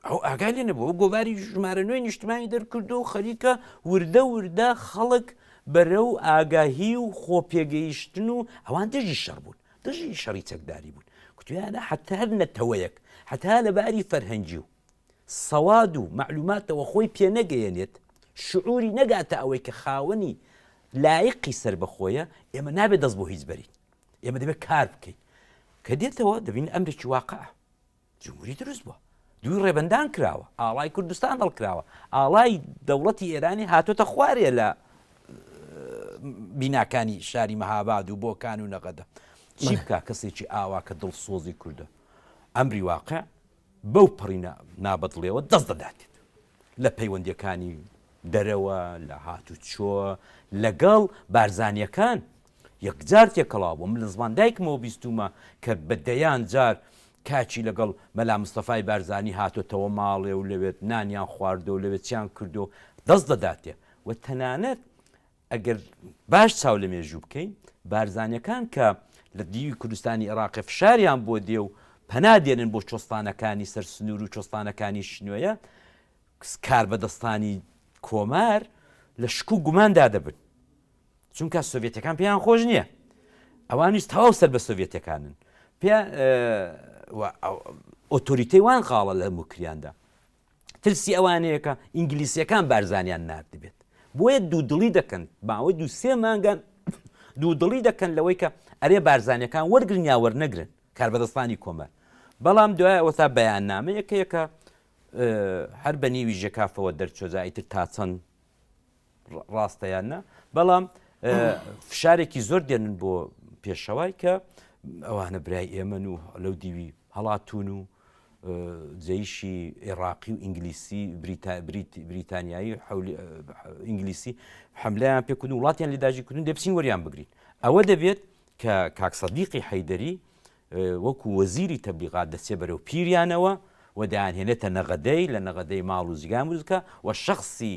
ئەو ئاگای لێ نەبوو گۆڤاری ژمارە نوێی نیشتمانی دەرکردو و خەریکە وردە وردە خەڵک بەرە و ئاگاهی و خۆ پێگەیشتن و ئەوان دژی شەڕ بوون دژی شەڕی چەکداری بوون کوتیانە حتا هەر نەتەوەیەک حتا لە باری فەرهەنگی و سەواد و معلوماتەوە خۆی پێنەگەیەنێت شعوری نەگاتە ئەوەی کە خاوەنی لایقی سەر بەخۆیە ئێمە نابێت دەست بۆ هیچ بەرین ئێمە دەبێت کار بکەین کە دێتەوە دەبین ئەمرێکی واقع جمهوری دروست بووە، دووی ڕێبەندان کراوە، ئاڵای کوردستان هەڵکراوە، ئاڵای دەوڵەتی ئێرانی هاتۆتە خوارێ لە بیناکانی شاری مەهاباد و بۆکان و نەغەدە چی بکە کەسێکی ئاوا کە دڵسۆزی کوردە ئەمری واقع بەو پڕینە نابەدڵێەوە دەست دەداتێت لە پەیوەندەکانی دەرەوە لە هاتوچۆ لەگەڵ بارزانیەکان یەکجار تێکەڵاو بووم، لە زمان دایکمەوە بیستوومە کە بە دەیان جار کاکی لەگەڵ مەلا مستەفای بارزانی هاتۆتەوە ماڵێ و لەوێت نانیان خواردووە و لەوێ چیان کردووە و دەست دەداتێ و تەنانەت ئەگەر باش چاو لە مێژوو بکەین بارزانیەکان کە لە دیوی کوردستانی ئێڕاقێ فشاریان بۆ دێ و پەنا دێنن بۆ چۆستانەکانی سەر سنوور و چۆستانەکانی شنۆیە کاربەدەستانی کۆمار لە شک و گوماندا دەبن چونکە سۆڤێتەکان پێیان خۆش نییە ئەوانیش تەواو سەر بە سۆڤێتەکانن پێ ئۆتۆریتەی وان خاڵە لە موکریاندا ترسی ئەوانەیەکە ئینگلیسیەکان بارزانیان نردبێت بۆیە دوو دڵی دەکەن باوەی دوو سێ مانگان دوو دڵی دەکەن لەوەی کە ئەرێ بارزانەکان وەرگرن یا وەرنەگرن کاربەدەستانی کۆمەر بەڵام دوای ئەوە تا بەیان نامە یەکەیەکە هەر بە نیوی ژێکافەوە دەرچۆزایتر تا چەند ڕاستە یان نە بەڵام فشارێکی زۆر دێنن بۆ پێشەوای کە ئەوانە برای ئێمەن و لەو دیوی هەڵاتون و جەیشی عێراقی و ئینگلیسی بریتانیایی ئینگلیسی حملیان پێکردن وڵاتیان لەداجیکردن دەبچین وەریان بگرین ئەوە دەبێت کە کاکسەدیقی حەیدەری وەکو وەزیری تەبلیغات دەچێ بەرەو پیریانەوە و دایانهێنێتە نەغەدەی لە نەغەدەی ماڵ و زیگان وزکە و شخصی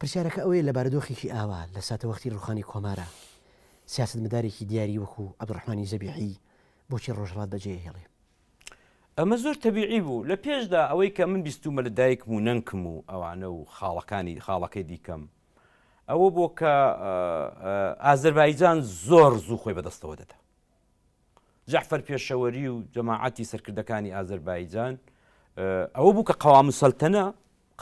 پرسیارەکە ئەوەیە لە بارودۆخێکی ئاوا، لە ساتەوەختی ڕووخانی کۆمارا، سیاسەتمەدارێکی دیاری وەکوو عەبدولڕەحمانی زەبیحی بۆچی ڕۆژهەڵات بەجێ ئەهێڵێ؟ ئەمە زۆر تەبیعی بوو. لە پێشدا ئەوەی کە من بیستوومە لە دایکم و نەنکم و ئەوانە و خاڵەکانی خاڵەکەی دیکەم ئەوە بووە کە ئازەربایجان زۆر زوو خۆی بەدەستەوە دەدا. جەعفەر پێشەوەری و جەماعەتی سەرکردەکانی ئازەربایجان ئەوە بوو کە قەوام سەلتەنە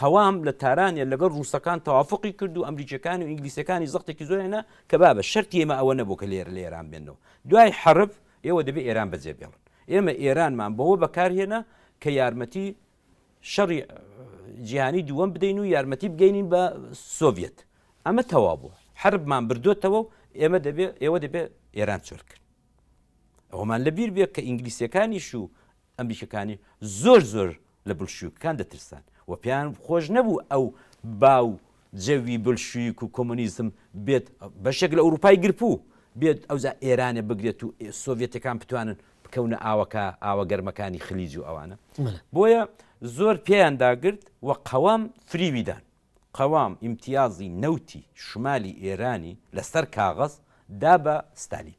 قەوام لە تارانە لەگەڵ ڕووسەکان توافقی کرد و ئەمریکەکان و ئینگلیسەکانی زەختێکی زۆرێنە کە بابە شەرتی ئێمە ئەوە نەبوو کە لێر لە ئێران بێنەوە دوای حرب ئێوە دەبێت ئێران بەجێ بێڵن ئێمە ئێرانمان بەوە بەکارهێنا کە یارمەتی شەڕی جیهانی دووەم بدەین و یارمەتی بگەینین بە سۆڤەت ئەمە تەوا بوو حربمان بردوێتەوە و ئێمە دەبێ ئێوە دەبێ ئێران چۆل کرد ئەومان لە بیر بێت کە ئینگلیسیەکانیش و ئەمریکەکانی زۆر زۆر لە بلشوکان دەترسان و پێیان خۆش نەبوو ئەو باو جەوی بلشویک و کۆمۆنیزم بێت بەشێک لە ئوروپای گرپوو بێت ئەوجا ئێرانێ بگرێت و سۆڤیەتەکان بتوانن بکەونە ئاوەکە ئاوە گەرمەکانی خلیج و ئەوانە بۆیە زۆر پێیان داگرت و قەوام فریوی دان قەوام ئیمتیازی نەوتی شمالی ئێرانی لەسەر کاغەز دا بە ستالین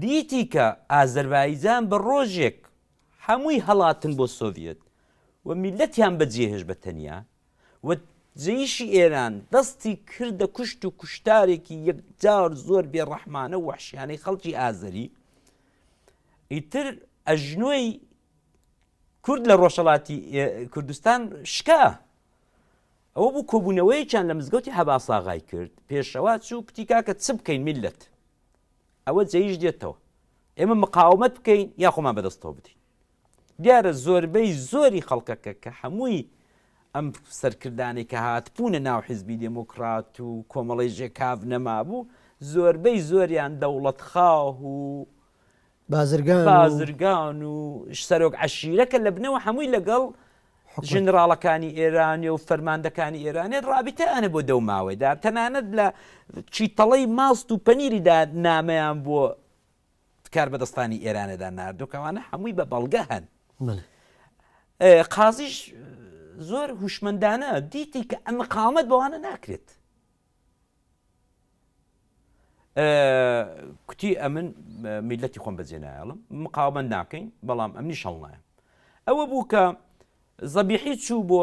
دیتی کە ئازەربایجان بە ڕۆژێک هەمووی هەڵاتن بۆ سۆڤیەت و میللەتیان بە جێهێشت بە تەنیا و جەیشی ئێران دەستی کردە کوشت و کوشتارێکی یەکجار زۆر بێڕەحمانە و وەحشیانەی خەڵکی ئازەری ئیتر ئەژنۆی کورد لە ڕۆژهڵاتی کوردستان شکا ئەوە بوو کۆبوونەوەیەکیان لە مزگەوتی حەباساغای کرد، پێشەوا چوو کوتی کاکە چ بکەین میللەت ئەوە جەیش دێتەوە، ئێمە مقاومەت بکەین یا خۆمان بەدەستەوە بدەین؟ دیارە زۆربەی زۆری خەڵکەکە کە هەمووی ئەم سەرکردانەی کە هاتبوونە ناو حیزبی دێموکرات و کۆمەڵەی ژێکاڤ نەمابوو، زۆربەی زۆریان دەوڵەتخاه و بازرگان و. بازرگان و سەرۆک عەشیرە کە لە بنەوە هەمووی لەگەڵ ژنراڵەکانی ئێرانێ و فەرماندەکانی ئێرانێت ڕابیتیانە بۆ دەو ماوەیدا تەنانەت لە چیتەڵەی ماست و پەنیریدا نامەیان بۆ کار بەدەستانی ئێرانەدا نردۆکەوانە هەمووی بە بەڵگە هەن قازیش زۆر هوشمەندانە دیتی کە ئەمە قامەت بەوانە ناکرێت کوتی ئەمن میلەتی خۆم بەجێ نایڵم مقاومەند ناکەین بەڵام ئەمنی شەڵ نایم ئەوە بوو کە زەبیحی چوو بۆ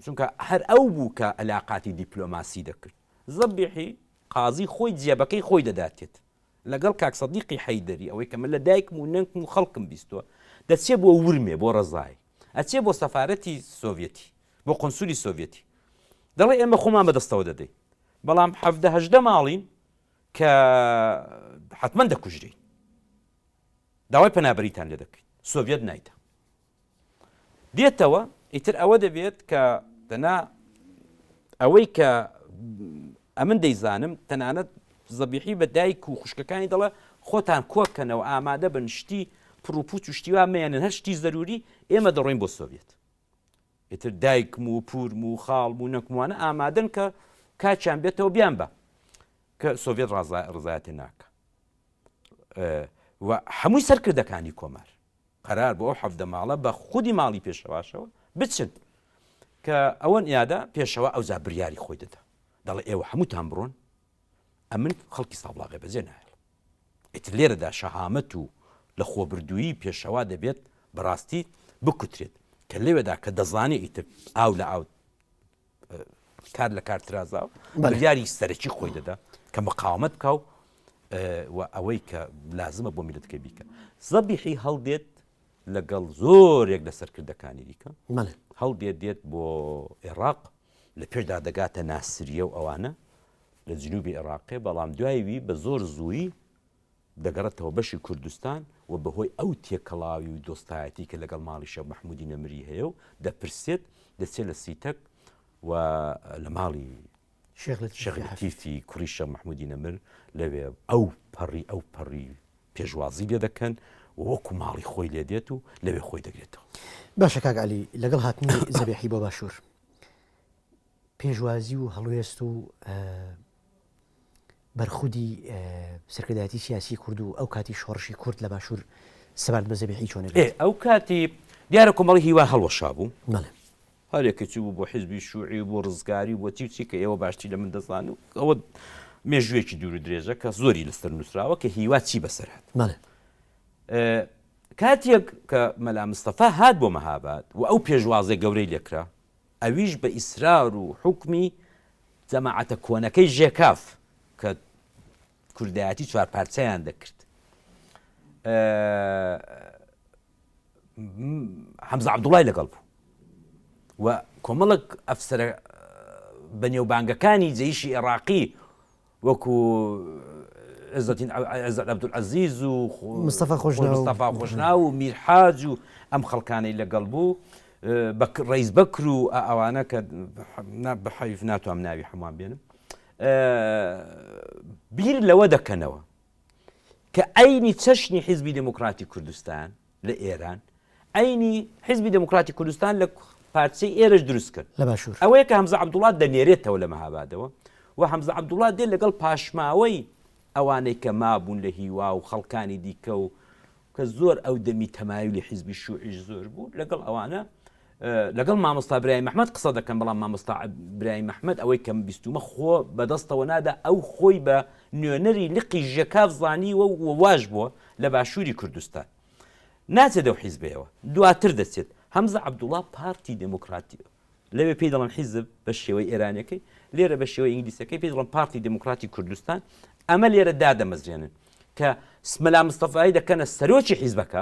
چونکە هەر ئەو بوو کە ئەلاقاتی دیپلۆماسی دەکرد زەبیحی قازی خۆی جێبەکەی خۆی دەداتێت لەگەڵ کاک سەدیقی حەیدەری ئەوەی کە من لە دایکم و نەنکم و خەڵکم بیستوە دەچێ بۆ ورمێ بۆ ڕزای ئەچێ بۆ سەفارەتی سۆڤیەتی، بۆ قونسولی سۆڤیەتی، دەڵێ ئێمە خۆمان بەدەستەوە دەدەین، بەڵام حەڤدە هەژدە ماڵین کە حەتمەن دەکوژرێین، داوای پەنابەریتان لێ دەکەین، سۆڤیەت نایدە. دێتەوە ئیتر ئەوە دەبێت کە دەنا ئەوەی کە ئەمن دەیزانم تەنانەت زەبیحی بە دایک و خوشکەکانی دەڵێ، خۆتان کۆ بکەنەوە، ئامادە بن، شتی پڕ و پووچ و شتی وا مەیەنن، هەر شتی زەرووری، ئێمە دەڕۆین بۆ سۆڤیەت. ئیتر دایکم و پوورم و خاڵم و نەنکم وانە ئامادەن کە کاتیان بێتەوە بیان با، کە سۆڤیەت ڕزایەتیان ناکا و هەمووی سەرکردەکانی کۆمار. قەرار بوو ئەو حەڤدە ماڵە بە خودی ماڵی پێشەواشەوە بچن کە ئەوەن یادە پێشەوە ئەوزا بریاری خۆی دەدا دەڵێ ئێوە هەمووتان بڕۆن ئەمن خەڵکی سابڵاغێ بەجێ نایڵ ئیتر لێرەدا شەهامەت و لە خۆبردوویی پێشەوا دەبێت بەڕاستی بکوترێت کە لەوێدا کە دەزانێ ئیتر ئاو لە ئاو کار لە کار ترازا و بڕیاری سەرەکی خۆی دەدا کە مقاومت بکە و و ئەوەی کە لازمە بۆ میلتکە بیکە زەبیحی هەڵدێت لەگەڵ زۆرێک لە سەرکردەکانی دیکە هەڵدێت دێت بۆ عێراق لە پێشدا دەگاتە ناسریە و ئەوانە لە جنوبی عێراقێ بەڵام دوایوی بە زۆر زووی دەگەڕێتەوە بەشی کوردستان و بەهۆی ئەو تێکەڵاوی و دۆستایەتی کە لەگەڵ ماڵی شێخ مەحموودی نەمری هەیە و دەپرسێت، دەچێت لە سیتەک و لە ماڵی شێخ لەتیفی کوڕی شێخ مەحموودی نەمر لەوێ ئەو پەڕی ئەو پەڕی پێشوازی لێ دەکەن و وەکو ماڵی خۆی لێ دێت و لەوێ خۆی دەگرێتەوە. باشە کاک عەلی لەگەڵ هاتنی زەبێحی بۆ باشوور پێشوازی و هەڵوێست و بەرخودی سەرکردایەتی سیاسی کورد و ئەو کاتی شۆڕشی کورد لە باشوور سەبارەت بە زەبیحی چۆنە بێت؟ ئێ ئەو کاتی دیارە کۆمەڵی هیوا هەڵوەشا بوو. بەڵێ. هەرێ کەچی بوو بۆ حیزبی شووعی و بۆ ڕزگاری و بۆ چی و چی کە ئێوە باشتری لە من دەزان و ئەوە مێژوویەکی دوور و درێژە کە زۆری لەسەر نووسراوە کە هیوا چی بەسەر هات. بەڵێ. کاتێک کە مەلا مستەفا هات بۆ مەهاباد و ئەو پێشوازە گەورەی لێ کرا، ئەویش بە ئیسرار و حوکمی جەماعەتە کۆنەکەی ژێکاف کە کوردایەتی چوار پارچەیان دەکرد حەمزە عەبدوڵای لەگەڵ بوو و کۆمەڵک ئەفسرە بەنێوبانگەکانی جەیشی عێراقی وەکو عزەتین عزەت عبدالعزیز و مستەفا خۆشناو مستەفا خۆشناو و میر حاج و ئەم خەڵکانەی لەگەڵ بوو ڕیز بەکر و ئەوانە کە بەحەویف ناتوام ناوی هەمووان بێنم بیر لەوە دەکەنەوە کە ئەینی چەشنی حیزبی دموکراتی کوردستان لە ئێران عەینی حیزبی دێموکراتی کوردستان لە پارچەی ئێرەش دروست کرد لە باشوور. ئەوەیە کە هەمزە عەبدوڵا دەنێرێتەوە لە مەهابادەوە و هەمزە عەبدوڵا دێ لەگەڵ پاشماوەی ئەوانەی کە مابوون لە هیوا و خەڵکانی دیکە و کە زۆر ئەو دەمی تەمایلی حیزبی شوعیش زۆر بوو لەگەڵ ئەوانە لەگەڵ مامۆستا برایم ئەحمەد قسە دەکەم بەڵام مامۆستا برایم ئەحمەد ئەوەی کەم بیستومە خۆ بەدەستەوە نادا ئەو خۆی بە نوێنەری لقی ژێکاف زانیوە و واش بووە لە باشووری کوردستان ناچێت ئەو حیزبەیەوە دواتر دەچێت هەمزە عەبدوڵا پارتی دێموکراتی لەوێ پێی دەڵن حیزب بە شێوەی ئێرانەکەی لێرە بە شێوەی ئینگلیسەکەی پێی دڵن پارتی دموکراتی کوردستان ئەمە لێرە دادەمەزرێنن کە سمەلا مستەفاایی دەکەنە سەرۆکی حیزبەکە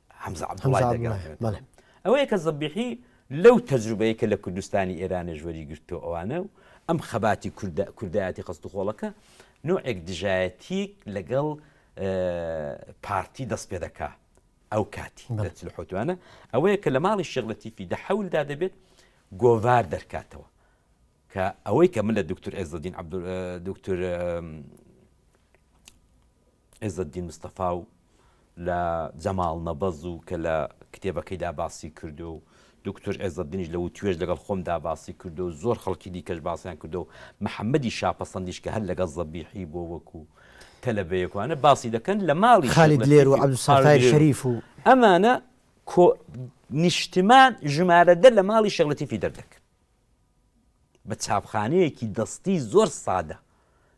حەمزە عەبدوڵای دەگەڕێنێتەوە. ئەوەیە کە زەبیحی لەو تەجروبەیە کە لە کوردستانی ئێرانێش وەریگرتووە ئەوانە و ئەم خەباتی کوردایەتی خەستوخۆڵەکە نوعێک دژایەتیک لەگەڵ پارتی دەست پێ دەکا ئەو کاتی لە حوتوانە ئەوەیە کە لە ماڵی شێغلەتیفی دە حەولدا دەبێت گۆڤار دەرکاتەوە کە ئەوەی کە من لە دکتور ئێزدین عبد دکتور عێزەدین مستەفا و لە جەماڵ نەبەز و کە لە کتێبەکەیدا باسی کردو و دوکتور عێزەدینیش لە وتوێژ لەگەڵ خۆمدا باسی کردو و زۆر خەڵکی دیکەش باسیان کردو و محەممەدی شاپەسەندیش کە هەر لەگەڵ زەبیحی بۆ وەکوو تەلەبەیەک وانە باسی دەکەن لە ماڵی شێخ خالید لێر و لەتیفی عەبدولستار خالید تای لێر و شەریف و ئەمانە کۆ نیشتمان ژمارە دە لە ماڵی شێخ لەتیفی دەردەکرد. بە چاپخانەیەکی دەستی زۆر سادە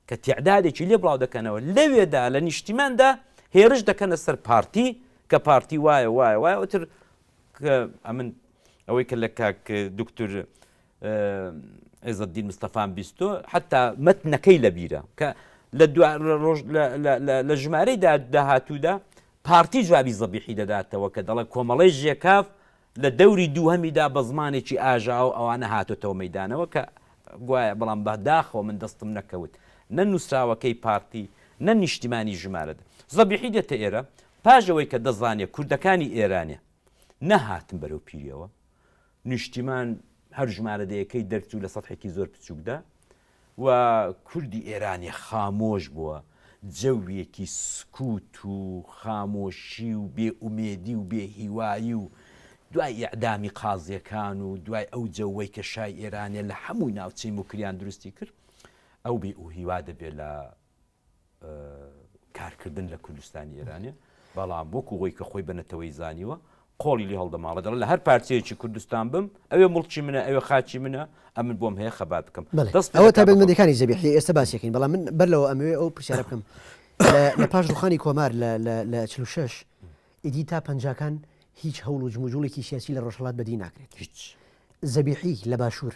کە تیعدادێکی لێ بڵاو دەکەنەوە لەوێدا لە نیشتیماندا هێرش دەکەنە سەر پارتی کە پارتی وایە وایە وایە ئەوتر ئەمن ئەوەی کە لە کاک دکتور عێزدین مستەفان بیستۆ حتا مەتنەکەی لە بیرە کە لە لە ژمارەی داهاتوودا پارتی جوابی زەبیحی دەداتەوە کە دەڵێ کۆمەڵی ژێکاف لە دەوری دووهەمیدا بە زمانێکی ئاژاوە ئەوانە هاتۆتەوە مەیدانەوە کە گوایە بەڵام بە داخەوە من دەستم نەکەوت نە نووسراوەکەی پارتی نە نیشتیمانی ژمارە دە. زەبیحی دێتە ئێرە پاش ئەوەی کە دەزانێ کوردەکانی ئێرانێ نەهاتن بەرەو پیریەوە، نیشتیمان هەر ژمارە دەیەکەی دەرچوو لە سەتحێکی زۆر بچووکدا، و کوردی ئێرانی خامۆش بووە، جەوێکی سکووت و خامۆشی و بێ ئومێدی و بێ هیوایی و دوای ئیعدامی قازییەکان و دوای ئەو جەوەی کە شای ئێرانێ لە هەموو ناوچەی موکریان دروستی کرد، ئەو بێ ئوهیوا دەبێ لە کارکردن لە کوردستانی ئێرانێ، بەڵام وەکو وەی کە خۆی بە نەتەوەی زانیوە، قۆڵی لێ هەڵدەماڵێ، دەڵێ لە هەر پارچەیەکی کوردستان بم، ئەوێ موڵکی منە، ئەوێ خاکی منە، ئەمن بۆم هەیە خەبات بکەم. بەڵێ، ئەوە تایبەتمەندییەکانی زەبیحییە، ئێستە باسی ئەکەین، بەڵام من بەر لەوە ئەمەوێ ئەو پرسیارە بکەم، لە پاش ڕووخانی کۆمار لە لە چل و شەش، ئیدی تا پەنجاکان هیچ هەوڵ و جموجووڵێکی سیاسی لە ڕۆژهەڵات بەدی ناکرێت. هیچ! زەبیحی لە باشوور،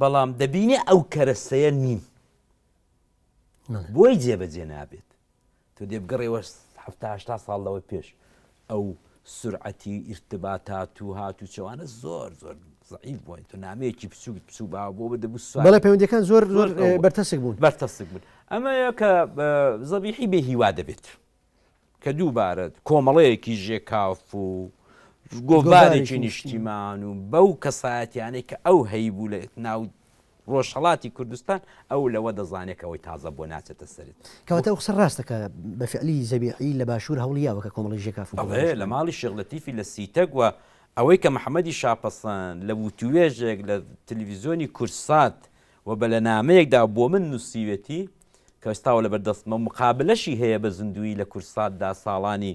بەڵام دەبینێ ئەو کەرەستەیە نین بۆی جێبەجێ نابێت تۆ دێ بگەڕێوە هەفتا ساڵ لەوە پێش ئەو سرعەتی ئیرتباتات و هات و چوانە زۆر زۆر زعیف بووین تۆ نامەیەکی بچووک بچوو با بۆ بە دەبوو سوال پەیوەندەکان زۆر زۆر بەرتەسک بوون بەرتەسک بوون ئەمەیە کە زەبیحی بێ هیوا دەبێت کە دووبارە کۆمەڵەیەکی ژێکاف و گۆڤارێکی نیشتیمان و بەو کەسایەتیانەی کە ئەو هەیبوو لە ناو ڕۆژهڵاتی کوردستان ئەو لەوە دەزانێکەوەی تازە بۆ ناچێتە سرت کەواتە قسە ڕاستەکە بە فعلی زەبیحی لە باشوور هەوڵیاوە کە کۆمەڵی ژێکاف لە ماڵی شغلەتیفی لە سیتەک وە ئەوەی کە محەممەدی شاپەسەن لە وتوێژێک لە تلویزیۆنی کورسات و بە لە نامەیەکدا بۆ من نووسیوێتی کە ئێستاوە لەبەر دەستمە و مقابلەشی هەیە بە زیندوویی لە کوردساتدا ساڵانی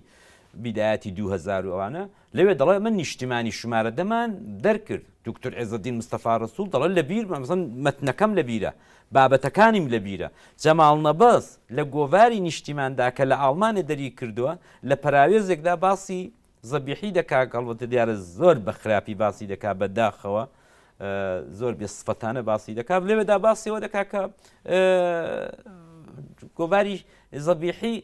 بیدایەتی دوو هەزار و ئەوانە لەوێ دەڵێ ئەمە نیشتیمانی شمارە دەمان دەرکرد دوکتور عێزەدین مستەفا ڕەسوڵ دەڵێ لە بیر مەمزن مەتنەکەم لە بیرە بابەتەکانیم لە بیرە جەماڵ نەبەز لە گۆڤاری نیشتیماندا کە لە ئاڵمانێ دەری کردووە لە پەراوێزێکدا باسی زەبیحی دە کاک هەڵبەتە دیارە زۆر بە خراپی باسی دەکا بە داخەوە زۆر بێ سفەتانە باسی دەکا لێوێدا باسیەوە دەکا کە گۆڤاری زەبیحی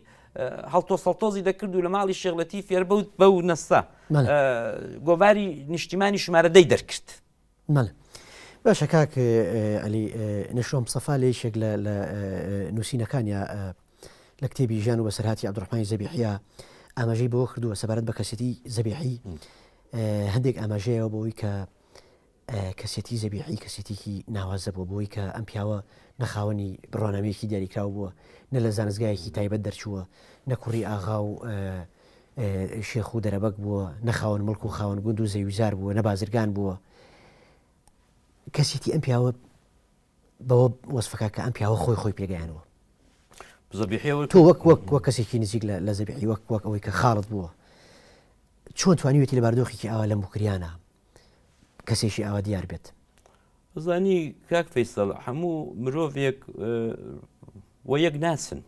هەڵتۆ سەڵتۆزی دەکرد و لە ماڵی شێغلەتی فێربوت بە و نەستا گۆڤاری نیشتیمانی ژمارە دەی دەرکرد بەڵێ باشە کاک علی نشۆم سەفا لە یشێک لە لە نووسینەکانیا لە کتێبی ژیان و بەسەرهاتی عبدڕحمانی زەبیحە ئاماژەی بۆ کردووە سەبارەت بە کەسێتی زەبیحی هەندێک ئاماژەیەوە بۆی کە کەسێتی زەبیحی کەسێتێکی ناوازە بۆ بۆی کە ئەم پیاوە نەخاوەنی بڕوانامەیەکی دیاریکراو بووە نە لە زانستگایەکی تایبەت دەرچووە نەکوڕی ئاغا و شێخ و دەرەبەگ بووە، نە خاوەن مڵک و خاوەن گوند و زەویوزار بووە، نە بازرگان بووە. کەسێتی ئەم پیاوە بەوە وەسفەکە کە ئەم پیاوە خۆی خۆی پێگەیانەوە تۆ وەک وەک وە کەسێکی نزیک لە زەبیحی وەک وەک ئەوەی کە خاڵت بووە چۆن توانیوێتی لە باردۆخێکی ئاوا لە مکریانە کەسێکی ئاوا دیار بێت زانی کاک فیسەڵ هەموو مرۆڤێک و یەک ناسن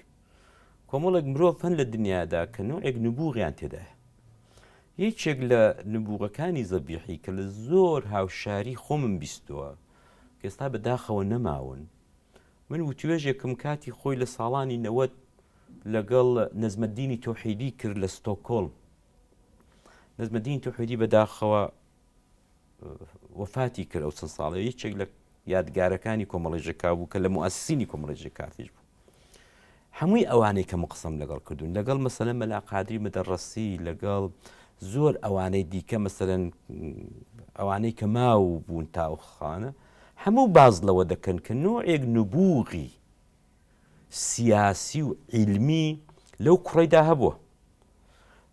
کۆمەڵێک مرۆڤ هەن لە دنیادا کە نوعێک نبووغیان تێدایە یەکێک لە نبووغەکانی زەبیحی کە لە زۆر هاوشاری خۆمم بیستووە کەستا بەداخەوە نەماون من وتوێژێکم کاتی خۆی لە ساڵانی نەوەت لەگەڵ نەزمەدینی تۆحیدی کرد لە ستۆکۆلم نەجمەدین توحیدی بەداخەوە وەفاتی کرد ئەو چەند ساڵی یەکێک لە یادگارەکانی کۆمەڵی ژکا بوو کە لە موسیینی کۆمەڵی ژکاتیش بوو هەمووی ئەوانەی کە مقسم لەگەڵ کردوون لەگەڵ مەسەلە مەلا قادری مەدەڕستی لەگەڵ زۆر ئەوانەی دیکە مەسەرەن ئەوانەی کە ماو بوون تاوخانە هەموو باز لەوە دەکەن کە نوعێک نبووغی سیاسی و عیلمی لەو کوڕەیدا هەبووە.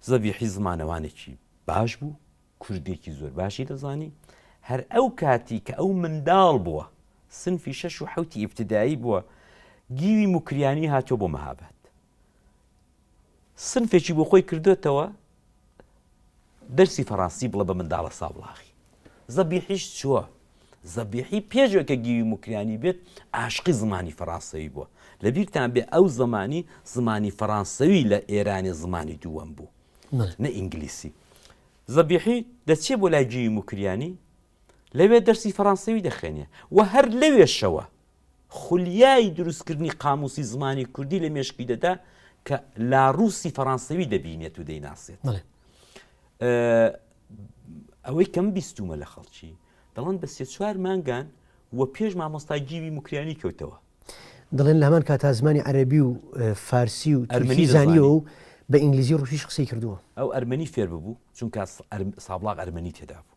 زەبیحی زمانەوانێکی باش بوو، کوردێکی زۆر باشی دەزانی، هەر ئەو کاتی کە ئەو منداڵ بووە، سنفی شەش و حەوتی ئیبتدایی بووە، گیوی موکریانی هاتووە بۆ مەهاباد. سنفێکی بۆ خۆی کردۆتەوە دەرسی فەڕانسی بڵە بە منداڵە سابڵاغی زەبیحیش چووە زەبیحی پێشوە کە گیوی مکریانی بێت ئاشقی زمانی فەڕانسەوی بووە لە بیرتان بێ ئەو زمانی زمانی فەڕانسەوی لە ئێرانی زمانی دووەم بوو نە ئینگلیسی زەبیحی دەچێ بۆ لای گیوی مکریانی لەوێ دەرسی فەرانسەوی دەخوێنێ و هەر لەوێشەوە خولیای دروستکردنی قامووسی زمانی کوردی لە مێشکی دەدا کە لاڕووسی فەرانسەوی دەبینێت و دەیناسێت ئەوەی کەم بیستومە لە خەڵکی دەڵند بە سێ چوار مانگان و پێش مامۆستا گیوی مکریانی کەوتەوە دەڵێن لە هەمان کاتا زمانی عەربی و فارسی و ئەرمەنی زانیەوە و بە ئینگلیزی ڕوسیش قسەی کردووە ئەو ئەرمەنی فێر ببوو چونکە سابڵاق ئەرمەنی تێدا بوو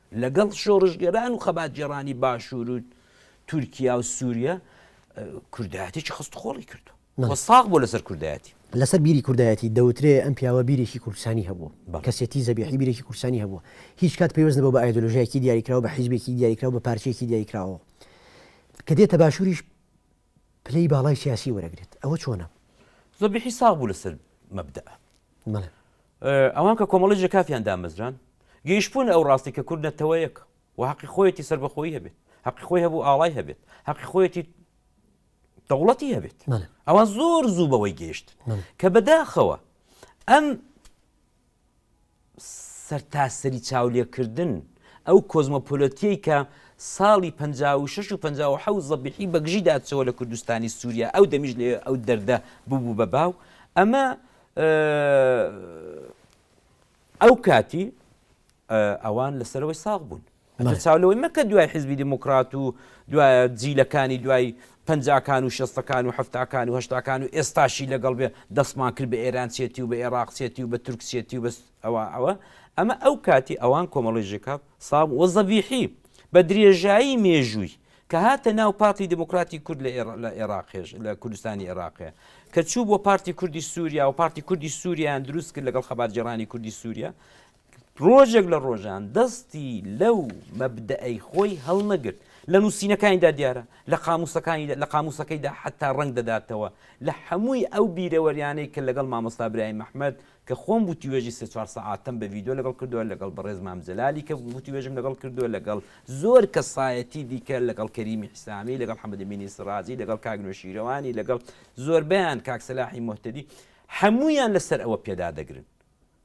لەگەڵ شۆڕشگێران و خەباتگێڕانی باشوور و تورکیا و سووریە کوردایەتێکی خستوخۆڵی کردووە. وە ساغ بووە لەسەر کوردایەتی. لەسەر بیری کوردایەتی، دەوترێ ئەم پیاوە بیرێکی کوردستانی هەبووە. کەسێتی زەبیحی بیرێکی کوردستانی هەبووە. هیچ کات پەیوەست نەبووە بە ئایدۆلۆژیایەکی دیاریکراو، بە حیزبێکی دیاریکراو، بە پارچەیەکی دیاریکراوەوە. کە دێتە باشووریش، پلەی باڵای سیاسی وەرەگرێت ئەوە چۆنە؟ زۆر بێ حیساب بوو لەسەر مەبدەئ. بەڵێ. ئەوان کە کۆمەڵی ژێکافیان دامەزراند، گەیشتبوونە ئەو ڕاستەی کە کورد نەتەوەیەکە و هەقی خۆیەتی سەربەخۆیی هەبێت، هەقی خۆی هەبوو ئاڵای هەبێت، هەقی خۆیەتی دەوڵەتی هەبێت. بەڵێ. ئەوان زۆر زوو بەوەی گەیشتن بەڵێ. کە بەداخەوە ئەم سەرتاسەری چاولێکردن، ئەو کۆزمۆپۆلۆتیەی کە ساڵی پەنجا و شەش و پەنجا و حەوت زەبیحی بەگژی داچەوە لە کوردستانی سوریا، ئەو دەمیش لەوێ ئەو دەردە ببوو بە باو، ئەمە ئەو کاتی ئەوان لەسەرەوەی ساغ بوون. ئەتو چاو لەوەی مەکە دوای حیزبی دیموکرات و دوای جیلەکانی دوای پەنجاکان و شەستەکان و حەفتاکان و هەشتاکان و ئێستاشی لەگەڵ بێ دەستمان کرد بە ئێرانچێتی و بە ئێراقچێتی و بە تورکچێتی و بەس ئەوە ئەوە ئەمە ئەو کاتی ئەوان کۆمەڵی ژێکاپ ساڵ وە زەڤیحی بە درێژایی مێژووی کە هاتە ناو پارتی دموکراتی کورد لە عێراقێش لە کوردستانی عێراقێ کە چوو بۆ پارتی کوردی سووریا و پارتی کوردی سووریان دروست کرد لەگەڵ خەباتگەڕانی کوردی سووریا ڕۆژێک لە ڕۆژان دەستی لەو مەبدەئەی خۆی هەڵنەگرت لە نووسینەکانیدا دیارە لە قاموسەکانی لە قاموسەکەیدا حتا ڕنگ دەداتەوە لە هەمووی ئەو بیرەوەریانەی کە لەگەڵ مامۆستا برای مححمد کە خۆم بوتی وێژی سێ چوار سەعاتم بە یددیو لەگەڵ کردووە لەگەڵ بەڕێز مامجللالی کە بوتی وێژم لەگەڵ کردووە لەگەڵ زۆر کەسایەتی دیکە لەگەڵ کەریمی حسامی لەگەڵ حەمەدە مینی سرازی لەگەڵ کاگنۆ شیرەوانی لەگەڵ زۆربیان کاکسەلاحی مهتدی هەمویان لەسەر ئەوە پێدا دەگرن